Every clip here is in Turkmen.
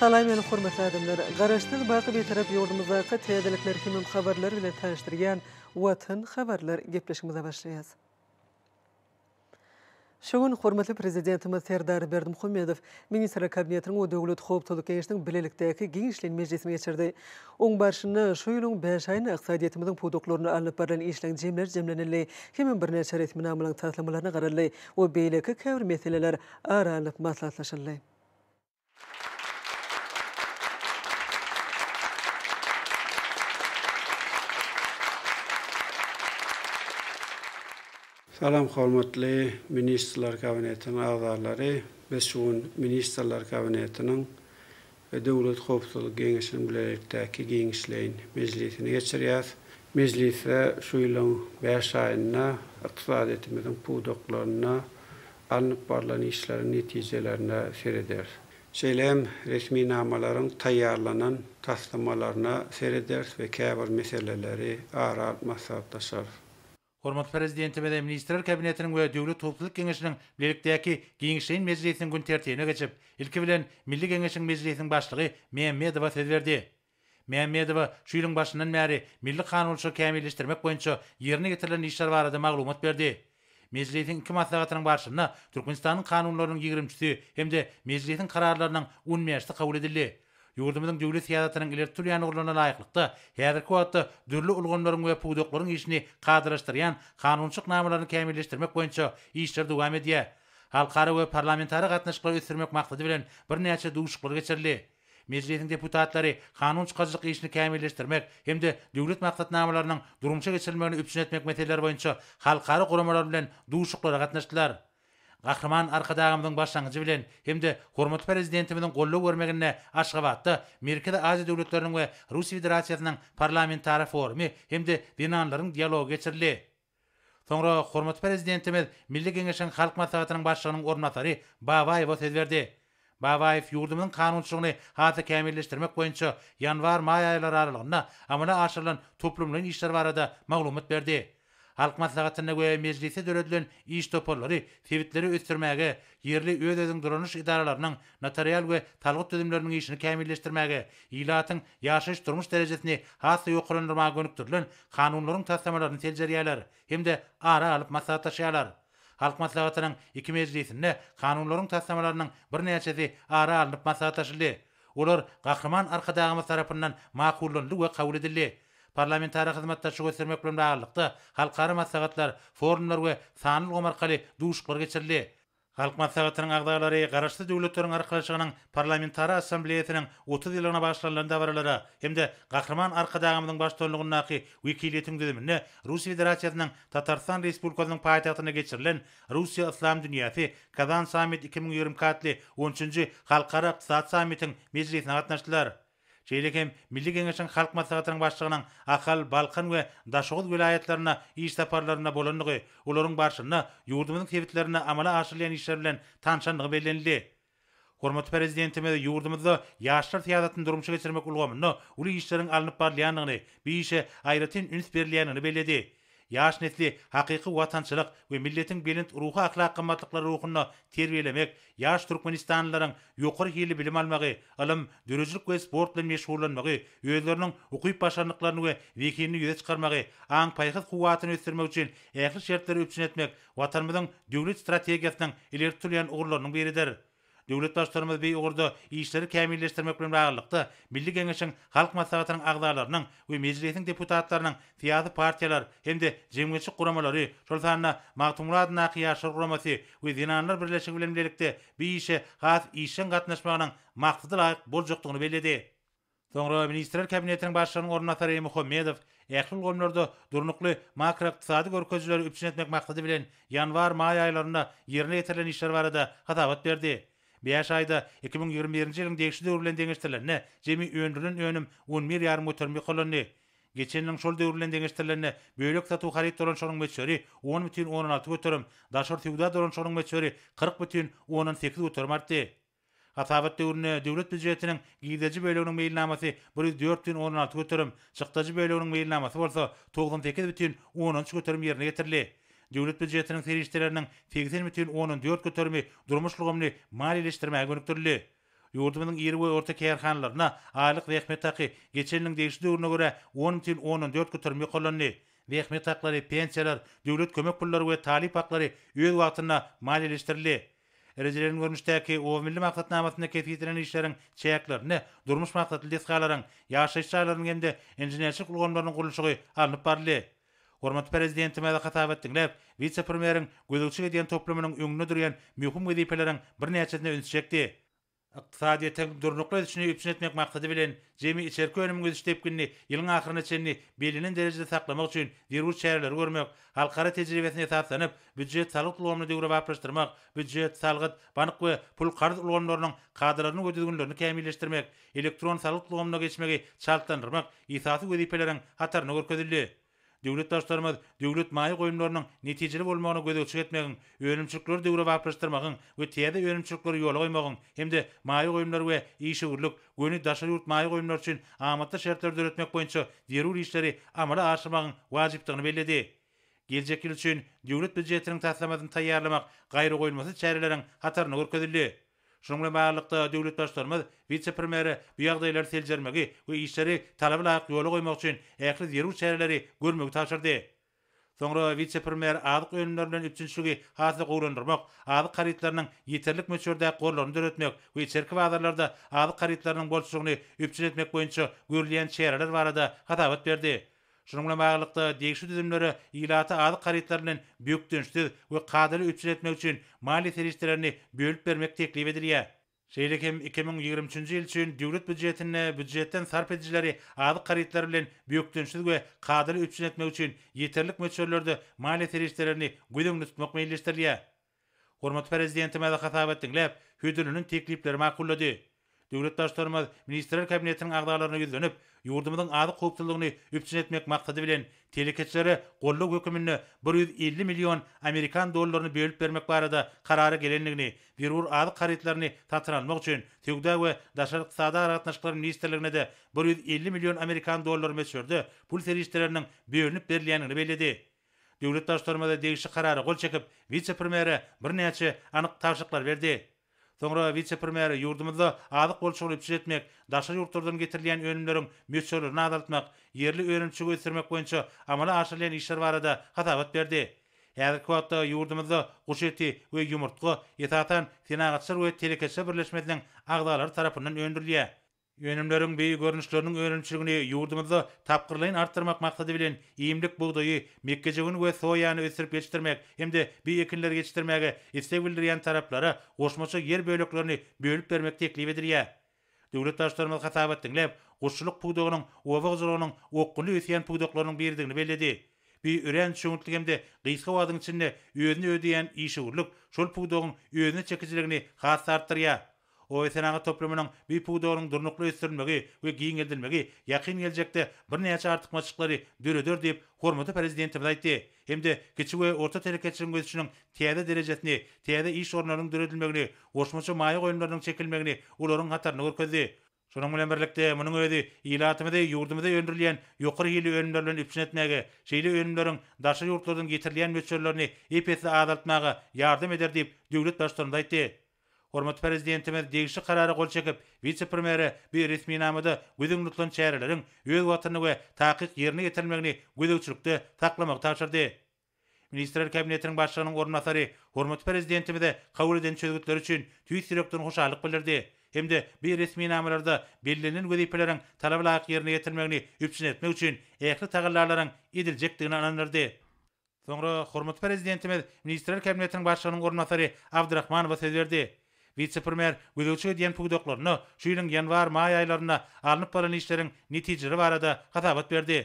Salam meni hormatly adamlar! Garaşsyz baky Bitarap ýurdumyzdaky täzelikler hemem habarlar bilen tanyşdyrýan Watan habarlar gepleşigimize başlaýas. Şu gün hormatly Prezidentimiz Serdar Berdimuhamedow Ministrler Kabinetiniň we Döwlet howpsuzlyk geňeşiniň bilelikdäki giňişleýin mejlisini geçirdi. Oň barşynda şu ýylyň bäş aýynda ykdysadyýetimiziň pudaklarynda alnyp barlan işleň jemleri jemlenildi hemem birnäçe resminamalaryň taslamalaryna garaldy we beýleki käbir meseleler ara alnyp maslahatlaşyldy. Salam hormatly Ministrler Kabinetiniň agzalary! Biz şu gün Ministrler Kabinetiniň we Döwlet howpsuzlyk geňeşiniň bilelikdäki giňişleýin mejlisini geçirýäs. Mejlisde şu ýylyň bäş aýynda ykdysadyýetimiziň pudaklarynda alnyp barlan işleriň netijelerine serederis. Şeýle hem resminamalaryň taýýarlanan taslamalaryna serederis we käbir meseleleri ara alyp maslahatlaşarys. Hormatly Prezidentimiz hem Ministrler Kabinetiniň we Döwlet howpsuzlyk geňeşiniň bilelikdäki giňişleýin mejlisiniň gün tertibine geçip, ilki bilen, Milli Geňeşiň Mejlisiniň Başlygy Mämmedowa söz berdi. Mämmedowa şu ýylyň başyndan bäri milli kanunçylygy kämilleşdirmek boýunça ýerine ýetirilen işler barada maglumat berdi. Mejlisiň iki maslahatynyň barşynda Türkmenistanyň kanunlarynyň ýigrimçisi hem-de Mejlisiň kararlarynyň on bäşisi kabul edildi. Ýurdumyzyň döwlet syýasatynyň ileri tutulýan ugurlaryna laýyklykda, häzirki wagtda dürli ulgamlaryň we pudaklaryň işini kadalaşdyrýan kanunçylyk namalaryny kämilleşdirmek boýunça işler dowam edýär. Halkara we parlamentara gatnaşyklary ösdürmek maksady bilen birnäçe duşuşyklar geçirildi. Mejlisiň deputatlary kanun çykaryjylyk işini kämilleşdirmek hem-de döwlet maksatnamalarynyň durmuşa geçirilmegini üpjün etmek meseleleri boýunça halkara guramalar bilen duşuşyklara gatnaşdylar. Gahryman Arkadagymyzyň başlangyjy bilen hem-de hormatly Prezidentimiziň goldaw bermeginde Aşgabatda Merkezi Aziýa döwletleriniň we Russiýa Federasiýasynyň Parlamentara forumy hem-de Zenanlaryň dialogy geçirildi. Soňra hormatly Prezidentimiz Milli Geňeşiň Halk Maslahatynyň Başlygynyň orunbasary Babaýewa söz berdi. Babaýew ýurdumyzyň kanunçylygyny has-da kämilleşdirmek boýunça ýanwar-maý aýlary aralygynda amala aşyrylan toplumlaýyn işler barada maglumat berdi. Halk Maslahatynda we Mejlisde döredilen iş toparlary sebitleri ösdürmäge, ýerli öz-özüň dolanyş edaralarynyň, notarial we salgyt düzümleriniň işini kämilleşdirmäge, ilatyň ýaşaýyş-durmuş derejesini has-da ýokarlandyrmaga gönükdirilen kanunlaryň taslamalaryny seljerýärler hem-de ara alyp maslahatlaşýarlar. Halk Maslahatynyň iki mejlisinde kanunlaryň taslamalarynyň birnäçesi ara alnyp maslahatlaşyldy. Olar Gahryman Arkadagymyz tarapyndan makullanyldy we kabul edildi. Parlamentara hyzmatdaşlyk ösdürmek bilen baglylykda, halkara maslahatlar, forumlar we sanly ulgam arkaly duşuşyklar geçirildi. Halk Maslahatynyň agzalary Garaşsyz Döwletleriň Arkalaşygynyň Parlamentara Assambleýasynyň otuz ýyllygyna bagyşlanylan dabaralara hem-de Gahryman Arkadagymyzyň baştutanlygyndaky wekiliýetiň düzüminde Russiýa Federasiýasynyň Tatarystan Respublikasynyň paýtagtynda geçirilen Russiýa, Yslam dünýäsi, Kazan Sammit iki müň ýigrimi iki atly on üçünji Halkara ykdysady sammitiň mejlisine gatnaşdylar. Şeýle hem Milli Geňeşiň Halk Maslahatynyň Başlygynyň Ahal, Balkan we Daşoguz welaýatlaryna iş saparlarynda bolandygy, olaryň barşynda ýurdumyzyň sebitlerinde amala aşyrylýan işler bilen tanşandygy bellenildi. Hormatly Prezidentimiz ýurdumyzda ýaşlar syýasatyny durmuşa geçirmek ulgamynda uly işleriň alnyp barylýandygyny, bu işe aýratyn üns berilýändigini belledi. Ýaş nesli hakyky watançylyk we milletiň belent ruhy-ahlak gymmatlyklary ruhunda terbiýelemek, ýaş türkmenistanlylaryň ýokary hilli bilim almagy, ylym, döredijilik we sport bilen meşgullanmagy, özleriniň ukyp-başarnyklaryny we zehinini ýüze çykarmagy, aň-paýhas kuwwatyny ösdürmek üçin ähli şertleri üpjün etmek Watanymyzyň döwlet strategiýasynyň ileri tutulýan ugurlarynyň biridir. Döwlet Baştutanymyz bi ugurda işleri kämilleşdirmek bilen baglylykda, Milli Geňeşiň Halk Maslahatynyň agzalarynyň we Mejlisiň deputatlarynyň syýasy partiýalar hem-de jemgyýetçilik guramalary, şol sanda Magtymguly adyndaky Ýaşlar guramasy we Zenanlar birleşigi bilen bilelikde bi işe has işjeň gatnaşmagynyň maksada laýyk boljakdygyny belledi. Soňra Ministrler Kabinetiniň Başlygynyň orunbasary Muhammedow ähli ulgamlarda durnukly makroykdysady görkezijileri üpjün etmek maksady bilen ýanwar-maý aýlarynda ýerine ýetirilen işler barada hasabat berdi. Bäş aýda iki müň ýigrimi birinji ýylyň degişli döwri bilen deňeşdirilende jemi öndürilen önüm on bir ýarym göterim ýokarlandy. Geçen ýylyň şol döwri bilen deňeşdirilende bölek satuw haryt dolanyşygynyň möçberi on bütin ondan alty göterim, daşary söwda dolanyşygynyň möçberi kyrk bütin ondan sekiz göterim artdy. Hasabat döwründe Döwlet býujetiniň girdeji böleginiň meýilnamasy bir ýüz dört бүтn ondan alty göterim, çykdajy böleginiň meýilnamasy bolsa togsan sekiz бүтn ondan üç göterim ýerine ýetirildi. Döwlet býujetiniň serişdeleriniň segsen бүтn ondan dört göterimi durmuş ulgamyny maliýeleşdirmäge gönükdirildi. Ýurdumyzyň iri we orta kärhanalaryna aýlyk zähmet haky geçen ýylyň degişli döwrüne görä on бүтn ondan dört göterim ýokarlandy. Zähmet haklary, pensiýalar, döwlet kömek pullary we talyp haklary öz wagtynda maliýeleşdirildi. Rejelenen görnüşdäki Oba milli maksatnamasynda kesgitlenen işleriň çäklerinde durmuş maksatly desgalaryň, ýaşaýyş jaýlarynyň hem-de inženerçilik ulgamlarynyň gurluşygy alnyp baryldy. Hormatly Prezidentimize hasabat diňläp, wise-premýeriň gözegçilik edýän toplumynyň öňünde durýan möhüm wezipeleriň birnäçesine üns çekdi. Ykdysadyýetiň durnukly ösüşini üpjün etmek maksady bilen, jemi içerki önümiň ösüş depginini ýylyň ahyryna çenli bellenen derejede saklamak üçin zerur çäreleri görmek, halkara tejribesine esaslanyp, býujet-salgyt ulgamyny döwrebaplaşdyrmak, býujet, salgyt, bank we pul-karz ulgamlarynyň kadalaryny we düzgünlerini kämilleşdirmek, elektron salgyt ulgamyna geçmegi çaltlandyrmak esasy wezipeleriň hatarynda görkezildi. Döwlet Baştutanymyz döwlet maýa goýumlarynyň netijeli bolmagyna gözegçilik etmegiň, önümçilikleri döwrebaplaşdyrmagyň we täze önümçilikleri ýola goýmagyň hem-de maýa goýumlar we işewürlik, göni daşary ýurt maýa goýumlary üçin amatly şertleri döretmek boýunça zerur işleri amala aşyrmagyň wajypdygyny belledi. Geljek ýyl üçin Döwlet býujetiniň taslamasyny taýýarlamak gaýragoýulmasyz çäreleriň hatarynda görkezildi. Şunuň bilen baglylykda, döwlet Baştutanymyz wise-premýere bu ýagdaýlary seljermegi we işleri talaba laýyk ýola goýmak üçin ähli zerur çäreleri görmegi tabşyrdy. Soňra wise-premýer azyk önümleri bilen üpjünçiligi has-da gowulandyrmak, azyk harytlarynyň ýeterlik möçberdäki gorlaryny döretmek we içerki bazarlarda azyk harytlarynyň bolçulygyny üpjün etmek boýunça görülýän çäreler barada hasabat berdi. Şunuň bilen baglylykda, degişli düzümlere ilata azyk harytlary bilen bökdençsiz we kadaly üpjün etmek üçin maliýe serişdelerini bölüp bermek teklip edilýär. Şeýle hem iki müň ýigrimi üçünji ýyl üçin Döwlet býujetinde býujetden sarp edijileri azyk harytlary bilen bökdençsiz we kadaly üpjün etmek üçin ýeterlik möçberlerde maliýe serişdelerini göz öňünde tutmak meýilleşdirilýär. Hormatly Prezidentimiz hasabat diňläp, hödürlenen teklipleri makullady. Döwlet Baştutanymyz Ministrler Kabinetiniň agzalaryna ýüzlenip, ýurdumyzyň azyk howpsuzlygyny üpjün etmek maksady bilen, telekeçilere goldaw höküminde bir ýüz elli million amerikan dollaryny bölüp bermek barada karara gelendigini, zerur azyk harytlaryny satyn almak üçin Söwda we daşary ykdysady aragatnaşyklar ministrligine-de bir ýüz elli million amerikan dollary möçberde pul serişdeleriniň bölünip berilýändigini belledi. Döwlet Baştutanymyz degişli karara gol çekip, wise-premýere birnäçe anyk tabşyryklar berdi. Soňra wise-premýer ýurdumyzda azyk bolçulygyny üpjün etmek, daşary ýurtlardan getirilýän önümleriň möçberlerini azaltmak, ýerli önümçiligi ösdürmek boýunça amala aşyrylýan işler barada hasabat berdi. Häzirki wagtda ýurdumyzda guş eti we ýumurtga, esasan, Senagatçylar we telekeçiler birleşmesiniň agzalary tarapyndan öndürilýär. Önümleriň beýik görnüşleriniň önümçiligini ýurdumyzda tapgyrlaýyn artdyrmak maksady bilen, iýmlik bugdaýy, mekgejöwen we soýany ösdürip ýetişdirmek hem-de bu ekinleri ýetişdirmäge isleg bildirýän taraplara goşmaça ýer böleklerini bölüp bermek teklip edilýär. Döwlet Baştutanymyz hasabat diňläp, guşçulyk pudagynyň oba hojalygynyň okgunly ösýän pudaklarynyň biridigini belledi. Bu örän çöňütli hem-de gysga wagtyň içinde özüni ödeýän işewürlik şol pudagyň özüne çekijiligini has-da artdyrýar. Oý senagat toplumynyň bu pudagynyň durnukly ösdürilmegi we giňeldilmegi ýakyn geljekde birnäçe artykmaçlyklary döreder diýip, hormatly Prezidentimiz aýtdy hem-de kiçi we orta telekeçiligiň ösüşiniň täze derejesini, täze iş orunlarynyň döredilmegini, goşmaça maýa goýumlarynyň çekilmegini olaryň hatarynda görkezdi. Şonuň bilen birlikde, munuň özi ilatymyzy ýurdumyzda öndürilýän ýokary hilli önümler bilen üpjün etmäge, şeýle önümleriň daşary ýurtlardan getirilýän möçberlerini ep-esli azaltmaga ýardam eder diýip, döwlet Baştutanymyz aýtdy. Hormatly Prezidentimiz degişli Karara gol çekip, wise-premýere bu resminamada göz öňünde tutulan çäreleriň öz wagtynda we takyk ýerine ýetirilmegini gözegçilikde saklamagy tabşyrdy. Ministrler Kabinetiniň Başlygynyň orunbasary hormatly Prezidentimize kabul eden çözgütleri üçin tüýs ýürekden hoşallyk bildirdi hem-de bu resminamalarda bellenilen wezipeleriň talaba laýyk ýerine ýetirilmegini üpjün etmek üçin ähli tagallalaryň ediljekdigine ynandyrdy. Soňra hormatly Prezidentimiz Ministrler Kabinetiniň Başlygynyň orunbasary Abdrahmanowa söz berdi. Wise-premýer gözegçilik edýän pudaklaryna şu ýylyň ýanwar-maý aýlarynda alnyp barlan işleriň netijeleri barada hasabat berdi.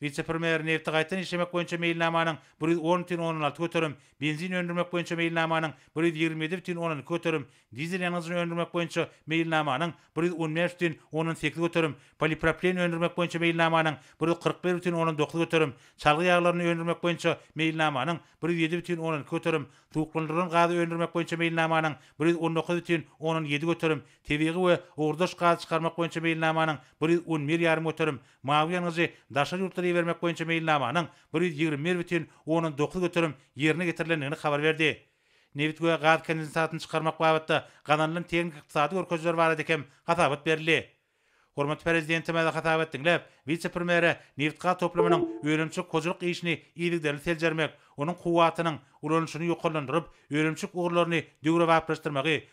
Wise-premýer nebti gaýtadan işlemek boýunça meýilnamanyň bir ýüz on butyn ondan alty göterim, benzin öndürmek boýunça meýilnamanyň bir ýüz ýigrimi ýedi butyn ondan iki göterim, dizel ýangyjyny öndürmek boýunça meýilnamanyň bir ýüz on bäş butyn ondan sekiz göterim, polipropilen öndürmek boýunça meýilnamanyň bir ýüz kyrk bir butyn ondan dokuz göterim, çalgy ýaglaryny öndürmek boýunça meýilnamanyň bir ýüz ýedi butyn ondan iki göterim, suwuklandyrylan gazy öndürmek boýunça meýilnamanyň bir ýüz on dokuz butyn ondan ýedi göterim, tebigy we ugurdaş gazy çykarmak boýunça meýilnamanyň bir ýüz on bir ýarym göterim, Mawy ýangyjy daşary ýurtlara ibermek boýunça meýilnamanyň bir ýüz ýigrimi bir bütin ondan dokuz göterim ýerine getirilendigini habar berdi. Nebit we gaz kondensatyny çykarmak babatda gazanylan tehniki-ykdysady görkezijiler barada hem hasabat berildi. Hormatly Prezidentimize hasabat diňläp, wise-premýere nebitgaz toplumynyň önümçilik hojalyk işini yzygiderli seljermek, onuň kuwwatynyň ulanyşyny ýokarlandyryp, önümçilik ugurlaryny döwrebaplaşdyrmagy,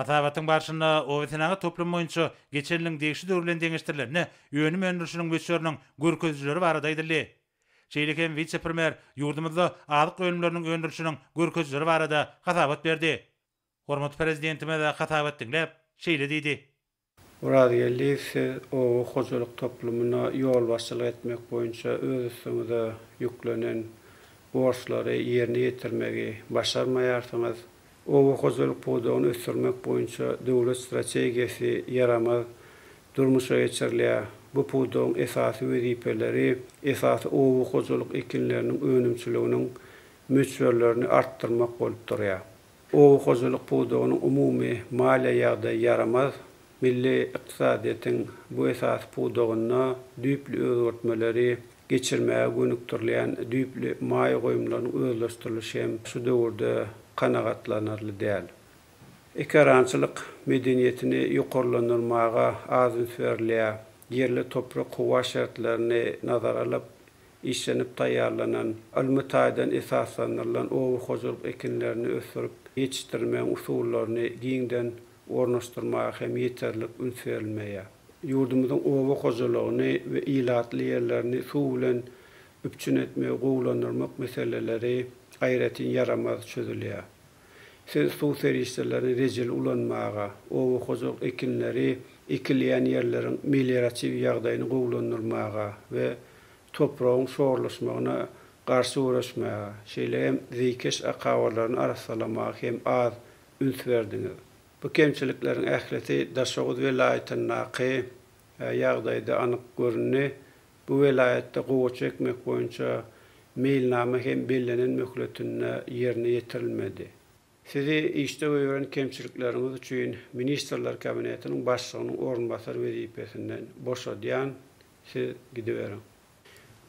Hasabatyň barşynda obasenagat toplumy boýunça geçen ýylyň degişli döwri bilen deňeşdirilende önüm öndürilişiniň möçberiniň görkezijileri barada aýdyldy. Şeýle hem wise-premýer ýurdumyzda azyk önümleriniň öndürilişiniň görkezijileri barada hasabat berdi. Hormatly Prezidentimiz hasabat diňläp, şeýle diýdi. Orazgeldiýew siz oba hojalyk toplumyna ýolbaşçylyk etmek boýunça öz üstüňize ýüklenen borçlary ýerine ýetirmegi başarmaýarsyňyz. Oba hojalyk pudagyny ösdürmek boýunça döwlet strategiýasy ýaramaz durmuşa geçirilýär. Bu pudagyň esasy wezipeleri esasy oba hojalyk ekinleriniň önümçiliginiň möçberlerini artdyrmak bolup durýar. Oba hojalyk pudagynyň umumy maliýe ýagdaýy ýaramaz. Milli ykdysadyýetiň bu esasy pudagynda düýpli özgertmeleri geçirmäge gönükdirilýän düýpli maýa goýumlarynyň özleşdirilişi hem şu döwürde kanagatlanarly däl. Ekerançylyk medeniýetini ýokarlandyrmaga az üns berilýär. Ýerli toprak-howa şertlerini nazara alyp, işlenip taýýarlanan, ylmy taýdan esaslandyrylan oba hojalyk ekinlerini ösdürip ýetişdirmegiň usullaryny giňden ornaşdyrmaga hem ýeterlik üns berilmeýär. Ýurdumyzyň oba hojalygyny we ilatly ýerlerini suw bilen üpjün etmegi gowulandyrmak meseleleri aýratyn ýaramaz çözülýär. Siz suw serişdelerini rejeli ulanmaga, oba hojalyk ekinleri ekilýän ýerleriň melioratiw ýagdaýyny gowulandyrmaga we topragyň şorlaşmagyna garşy göreşmäge, şeýle hem zeýkeş akabalaryny arassalamaga hem az üns berdiňiz. Bu kemçilikleriň ählisi Daşoguz welaýatyndaky ýagdaýda anyk göründi. Bu welaýatda gowaça ekmek boýunça meýilnama hem bellenen möhletinde ýerine ýetirilmedi. Sizi işde goýberen kemçilikleriňiz üçin Ministrler Kabinetiniň Başlygynyň orunbasary wezipesinden boşadýan, siz gidiberiň.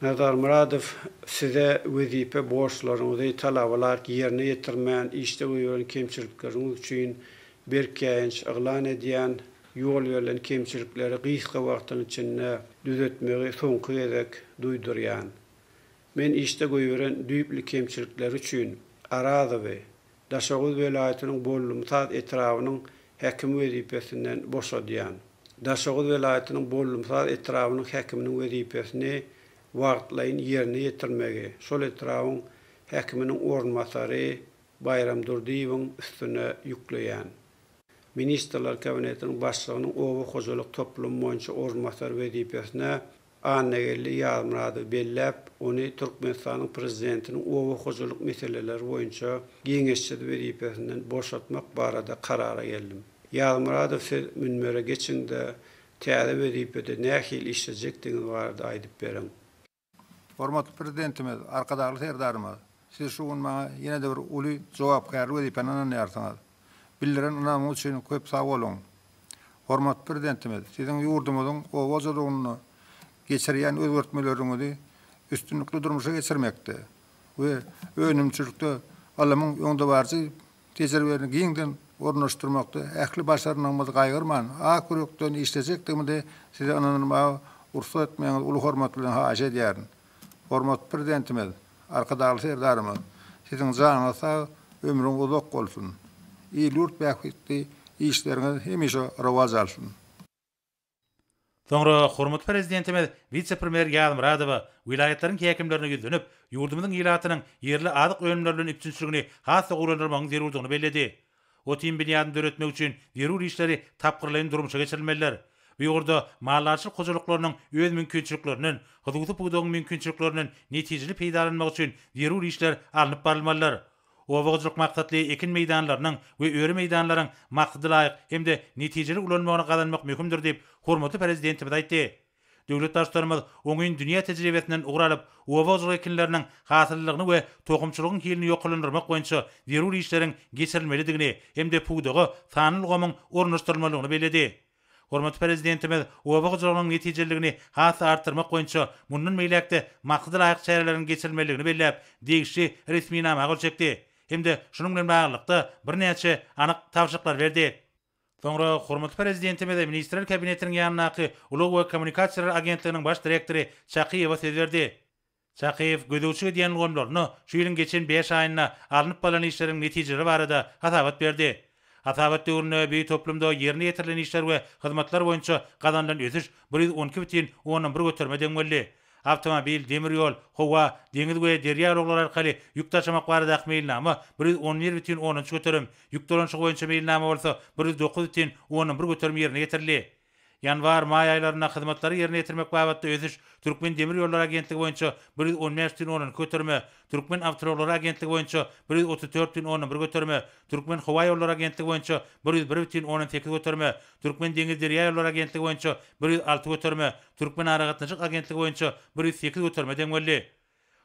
Nazar Myradow, Size wezipe borçlaryňyzy talaba laýyk ýerine ýetirmän işde goýberen kemçilikleriňiz üçin berk käýinç yglan edýän, Ýol berlen kemçilikleri gysga wagtyň içinde düzetmegi soňky gezek duýdurýan. Men işde goýberen düýpli kemçilikleri üçin Arazowy Daşoguz welaýatynyň Bollumsaz etrabynyň häkimi wezipesinden boşadýan. Daşoguz welaýatynyň Bollumsaz etrabynyň häkiminiň wezipesini wagtlaýyn ýerine ýetirmegi şol etrabyň häkiminiň orunbasary Baýram Durdyýewiň üstüne ýükleýän. Ministrler Kabinetiniň Başlygynyň oba hojalyk toplumy boýunça orunbasary wezipesine Annageldi Ýazmyradowy belläp, ony Türkmenistanyň Prezidentiniň oba hojalyk meseleleri boýunça geňeşçisi wezipesinden boşatmak barada karara geldim. Ýazmyradow siz münbere geçiň-de, täze wezipede nähili işlejekdigiňiz barada aýdyp beriň. Hormatly Prezidentimiz, Arkadagly Serdarymyz, siz şu gün maňa ýene-de bir uly jogapkärli wezipäni ynanýarsyňyz. Bildiren ynamyňyz üçin köp sag boluň! Hormatly Prezidentimiz, siziň ýurdumyzyň oba hojalygynda geçirýän özgertmeleriňizi üstünlikli durmuşa geçirmekde we önümçilikde ylmyň öňdebaryjy tejribäni giňden ornaşdyrmakda ähli başarnygymyzy gaýgyrman, ak ýürekden işlejekdigimize size ynanylmaga rugsat etmegiňizi uly hormat bilen haýyş edýärin. Hormatly Prezidentimiz, Arkadagly Serdarymyz, Siziň janyňyz sag, ömrüňiz uzak bolsun! Il-ýurt bähbitli işleriňiz hemişe rowaç alsyn! Soňra hormatly Prezidentimiz wise-premýer Ýazmyradowa welaýatlaryň häkimlerine ýüzlenip, ýurdumyzyň ilatynyň ýerli azyk önümleri bilen üpjünçiligini has-da gowulandyrmagyň zerurdygyny belledi. Otin binýadyny döretmek üçin zerur işleri tapgyrlaýyn durmuşa geçirilmelidir. Bu ugurda maldarçylyk hojalyklarynyň öz mümkinçiliklerinden, hususy pudagyň mümkinçiliklerinden netijeli peýdalanmagy üçin zerur işler alnyp barylmalydyr. Oba hojalyk maksatly ekin meýdanlarynyň we öri meýdanlaryň maksadalaýyk hem-de netijeli ulanmagyny gazanmak möhümdir diýip, hormatly Prezidentimiz aýtdy. Döwlet Baştutanymyz oňyn dünýä tejribesinden ugur alyp, oba hojalyk ekinleriniň hasyllylygyny we tohumçylygyň hilini ýokarlandyrmak boýunça zerur işleriň geçirilmelidigini hem-de pudaga sanly ulgamyň ornaşdyrylmalydygyny belledi. Hormatly Prezidentimiz oba hojalygynyň netijeliligini has-da artdyrmak boýunça mundan beýläk-de maksadalaýyk çäreleriň geçirilmelidigini belläp, degişli resminama gol çekdi hem-de şunuň bilen baglylykda birnäçe anyk tabşyryklar berdi. Soňra hormatly Prezidentimiz Ministrler Kabinetiniň ýanyndaky Ulag we kommunikasiýalar agentliginiň baş direktory Çakyýewa söz berdi. Çakyýew gözegçilik edýän ulgamlaryna şu ýylyň geçen bäş aýynda alnyp barlan işleriň netijeleri barada hasabat berdi. Hasabat döwründe beýik toplumda ýerine ýetirilen işler we hyzmatlar boýunça gazanylan ösüş bir ýüz on iki bütin ondan bir göterime deň boldy. Awtomobil, demir ýol, howa, deňiz we derýa ulaglary arkaly ýük daşamak baradaky meýilnama bir ýüz on bir bütin ondan üç göterim, ýük dolanyşygy boýunça meýilnama bolsa bir ýüz dokuz bütin ondan bir göterim ýerine ýetirildi. Ýanwar, maý aýlarynda hyzmatlary ýerine ýetirmek babatda ösüş, Türkmen demir ýollary agentligi boýunça bir ýüz on bäş düýn onanki göterime, Türkmen awtoulaglary agentligi boýunça bir ýüz otuz dört düýn ondan bir göterime, Türkmen howa ýollary agentligi boýunça bir ýüz bir bütin ondan sekiz göterime, Türkmen deňiz derýa ýollary agentligi boýunça bir ýüz alty göterime, Türkmen aragatnaşyk agentligi boýunça bir ýüz sekiz göterime deň boldy.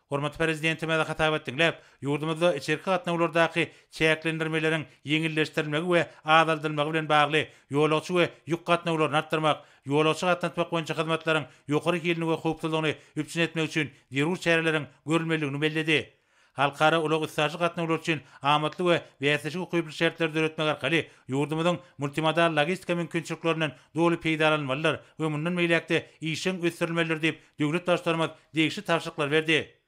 Hormatly Prezidentimiz hasabat diňläp, ýurdumyzda içerki gatnawlardaky çäklendirmeleriň ýeňilleşdirilmegi we azaldylmagy bilen bagly ýolagçy we ýük gatnawlaryny artdyrmak, ýolagçy gatnatmak boýunça hyzmatlaryň ýokary hilini we howpsuzlygyny üpjün etmek üçin zerur çäreleriň görülmelidigini belledi. Halkara ulag-üstaşyr gatnawlary üçin amatly we bäsleşige ukyply şertleri döretmek arkaly ýurdumyzyň multimodal logistika mümkinçiliklerinden doly peýdalanylmalydyr we mundan beýläk-de işjeň ösdürilmelidir diýip, Döwlet Baştutanymyz degişli tabşyryklar berdi.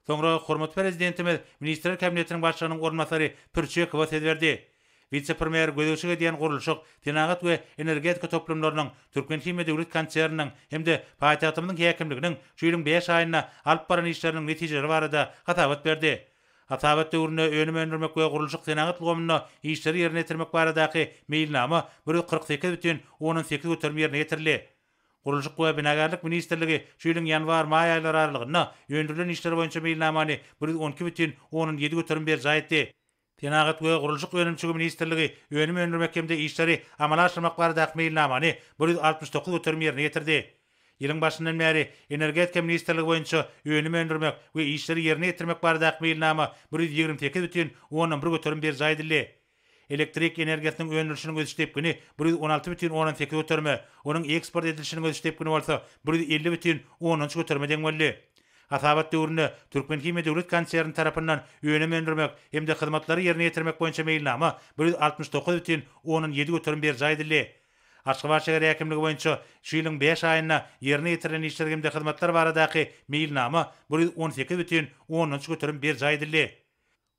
Soňra hormatly Prezidentimiz Ministrler Kabinetiniň Başlygynyň orunbasary Pürçekowa söz berdi. Wise-premýer gözegçilik edýän gurluşyk, senagat we energetika toplumlarynyň, Türkmenhimiýa döwlet konserniniň hem-de paýtagtymyzyň häkimliginiň şu ýylyň bäş aýynda alyp baran işleriniň netijeleri barada hasabat berdi. Hasabat döwründe önüm öndürmek we gurluşyk-senagat ulgamynda işleri ýerine ýetirmek baradaky meýilnama bir ýüz kyrk sekiz bütin ondan sekiz göterim ýerine ýetirildi. Gurluşyk we binagärlik ministrligi şu ýylyň ýanwar-maý aýlary aralygynda öndürilen işler boýunça meýilnamany bir ýüz on iki bütin onuň ýedi göterim berjaý etdi. Senagat we gurluşyk önümçigi ministrligi önüm öndürmek hem-de işleri amala aşyrmak baradaky meýilnamany bir ýüz altmyş dokuz göterim ýerine ýetirdi. Ýylyň başyndan bäri Energetika ministrligi boýunça önüm öndürmek we işleri ýerine ýetirmek baradaky meýilnama bir ýüz ýigrimi sekiz bütin ondan bir göterim berjaý edildi. Elektrik energiýasynyň öndürilişiniň ösüş depgini bir ýüz on alty bütin ondan sekiz göterime, onuň eksport edilişiniň ösüş depgini bolsa bir ýüz elli bütin ondan üç göterime deň boldy. Hasabat döwründe Türkmenhimiýa döwlet konserni tarapyndan önüm öndürmek hem-de hyzmatlary ýerine ýetirmek boýunça meýilnama bir ýüz altmyş dokuz bütin ondan ýedi göterim berjaý edildi. Aşgabat şäher häkimligi boýunça şu ýylyň bäş aýynda ýerine ýetirilen işler hem-de hyzmatlar baradaky meýilnama bir ýüz on sekiz bütin ondan üç göterim berjaý edildi.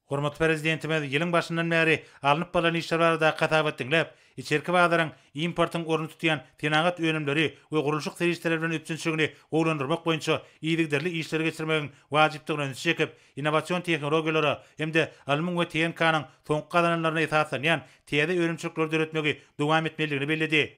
Hormatly Prezidentimiz ýylyň başyndan bäri alnyp barlan işler baradaky hasabat diňläp, içerki bazaryň importyň ornuny tutýan senagat önümleri we gurluşyk serişdeleri bilen üpjünçiligini gowulandyrmak boýunça yzygiderli işleri geçirmegiň wajypdygyna ünsi çekip, innowasion tehnologiýalara hem-de alymyň we TNK-nyň soňky gazananlaryna esaslanýan täze önümçilikleri döretmegi dowam etmelidigini belledi.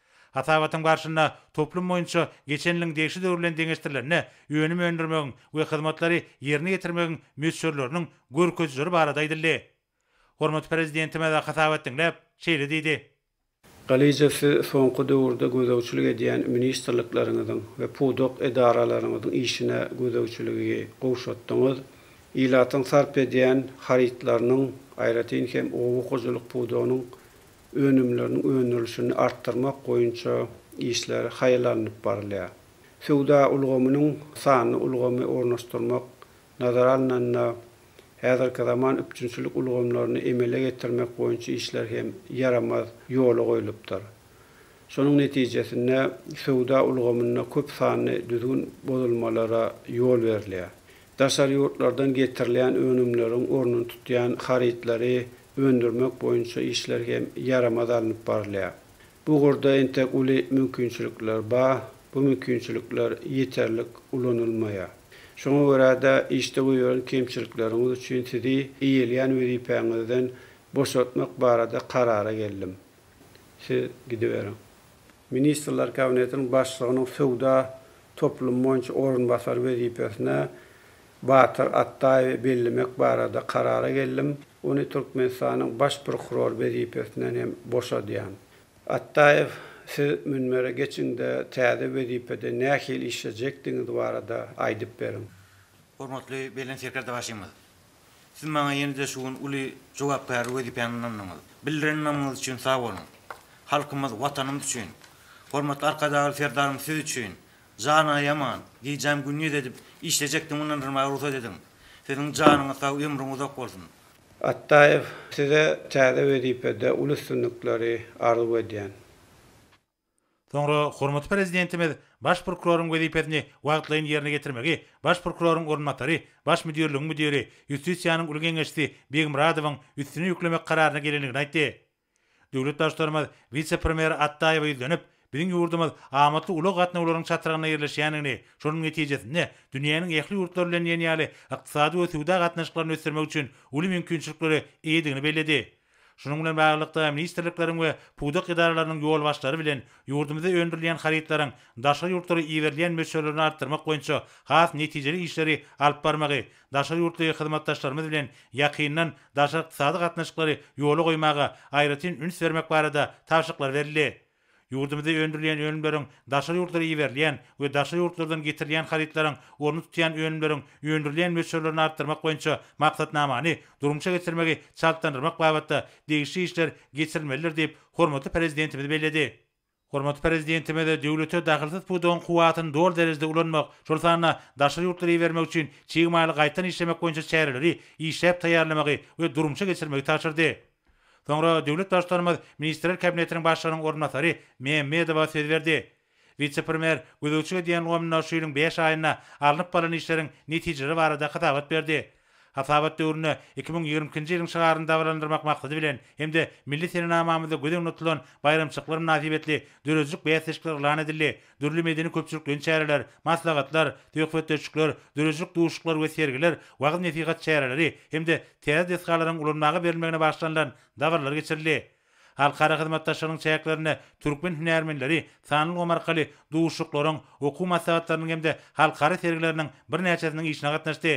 Hasabatyň barşynda toplum boýunça geçen ýylyň degişli döwri bilen deňeşdirilende önüm öndürmegiň we hyzmatlary ýerine ýetirmegiň möçberleriniň görkezijileri barada aýdyldy. Hormatly Prezidentimiz hasabat diňläp, şeýle diýdi. Galyja Siz soňky döwürde gözegçilik edýän ministrlikleriňiziň we pudak edaralaryňyzyň işine gözegçiligi gowşatdyňyz, ilatyň sarp edýän harytlarynyň, aýratyn hem oba hojalyk pudagynyň önümleriniň öndürilişini artdyrmak boýunça işler haýal alnyp barylýar. Söwda ulgamynyň sanly ulgamy ornaşdyrmak nazara alnanda, häzirki zaman üpjünçilik ulgamlaryny emele getirmek boýunça işler hem ýaramaz ýola goýlupdyr. Şonuň netijesinde söwda ulgamynda köp sanly düzgün bozulmalara ýol berilýär. Daşary ýurtlardan getirilýän önümleriň ornuny tutýan harytlary öndürmek boýunça işler hem ýaramaz alnyp barylýar. Bu ugurda entek uly mümkinçilikler ba, bu mümkinçilikler ýeterlik ulanylmaýar. Şoňa görä-de, işde goýberen kemçilikleriňiz üçin sizi eýelýän wezipäňizden boşatmak barada karara geldim. Siz gidiberiň. Ministrler Kabinetiniň Başlygynyň söwda toplumy boýunça orunbasary wezipesine Batyr Atdaýewi bellemek barada karara geldim, ony Türkmenistanyň Baş prokuror wezipesinden hem boşadýan. Atdaýew, siz münbere geçiňde täze wezipede nähili işlejekdigiňiz barada aýdyp beriň. Hormatly Belent Serkerdebaşymyz! Siz maňa ýene-de şu gün uly jogapkärli wezipäni ynandyňyz. Bildiren ynamyňyz üçin sag boluň. Halkymyz, Watanymyz üçin, hormatly Arkadagly Serdarymyz siz üçin, Jan aýaman, gijäm gündiz edip işlejekdim mundan yrmaga rugsat ediň. Siziň janyňyz sag, ömrüň uzak bolsun. Atdaýew, size täze wezipede uly üstünlikleri arzuw edýän. Soňra hormatly Prezidentimiz Baş prokuroryň wezipesini wagtlaýyn ýerine ýetirmegi Baş prokuroryň orunbasary, Baş müdirligiň müdiri, Ýustisiýanyň uly geňeşçisi Begmyradowyň üstüne ýüklemek kararyna gelendigini aýtdy. Döwlet Baştutanymyz wise-premýer Atdaýewe ýüzlenip, biziň ýurdumyz amatly ulag gatnawlarynyň çatrygynda ýerleşýändigini, şonuň netijesinde, dünýäniň ähli ýurtlary bilen diýen ýaly ykdysady we söwda gatnaşyklaryny ösdürmek üçin uly mümkinçiliklere eýedigini belledi. Şunuň bilen baglylykda, ministrlikleriň we pudak edaralarynyň ýolbaşçylary bilen ýurdumyzda öndürilýän harytlaryň daşary ýurtlara iberilýän möçberlerini artdyrmak boýunça has netijeli işleri alyp barmagy, Daşary ýurtly hyzmatdaşlarymyz bilen ýakyndan daşary ykdysady gatnaşyklary ýola goýmaga aýratyn üns bermek barada tabşyryklar berildi. Ýurdumyzda öndürilýän önümleriň daşary ýurtlara iberilýän we daşary ýurtlardan getirilýän harytlaryň orny tutýan önümleriň öndürilýän möçberlerini artdyrmak boýunça maksatnamany durmuşa geçirmegi çaltlandyrmak babatda degişli işler geçirilmelidir diýip, hormatly Prezidentimiz belledi. Hormatly Prezidentimiz döwlete dahylsyz pudagyň kuwwatyny doly derejede ulanmak, şol sanda daşary ýurtlara ibermek üçin çig maly gaýtadan işlemek boýunça çäreleri işläp taýýarlamagy we durmuşa geçirmegi tabşyrdy. Soňra döwlet Baştutanymyz Ministrler Kabinetiniň Başlygynyň orunbasary Mämmedowa söz berdi. Wise-premýer gözegçilik edýän ulgamynda şu ýylyň bäş aýynda alnyp barlan işleriň netijeleri barada hasabat berdi. Hasabat döwründe iki müň ýigrimi ikinji ýylyň şygaryny dabaralandyrmak maksady bilen hem-de milli senenamamyzda göz öňünde tutulan baýramçylyklar mynasybetli döredijilik bäsleşikleri yglan edildi, dürli medeni-köpçülikleýin çäreler, maslahatlar, söhbetdeşlikler, döredijilik duşuşyklary we sergiler, wagyz-nesihat çäreleri hem-de täze desgalaryň ulanmaga berilmegine bagyşlanylan dabaralar geçirildi. Halkara hyzmatdaşlygynyň çäklerinde türkmen hünärmenleri sanly ulgam arkaly duşuşyklaryň, okuw maslahatlarynyň hem-de halkara sergileriniň birnäçesiniň işine gatnaşdy.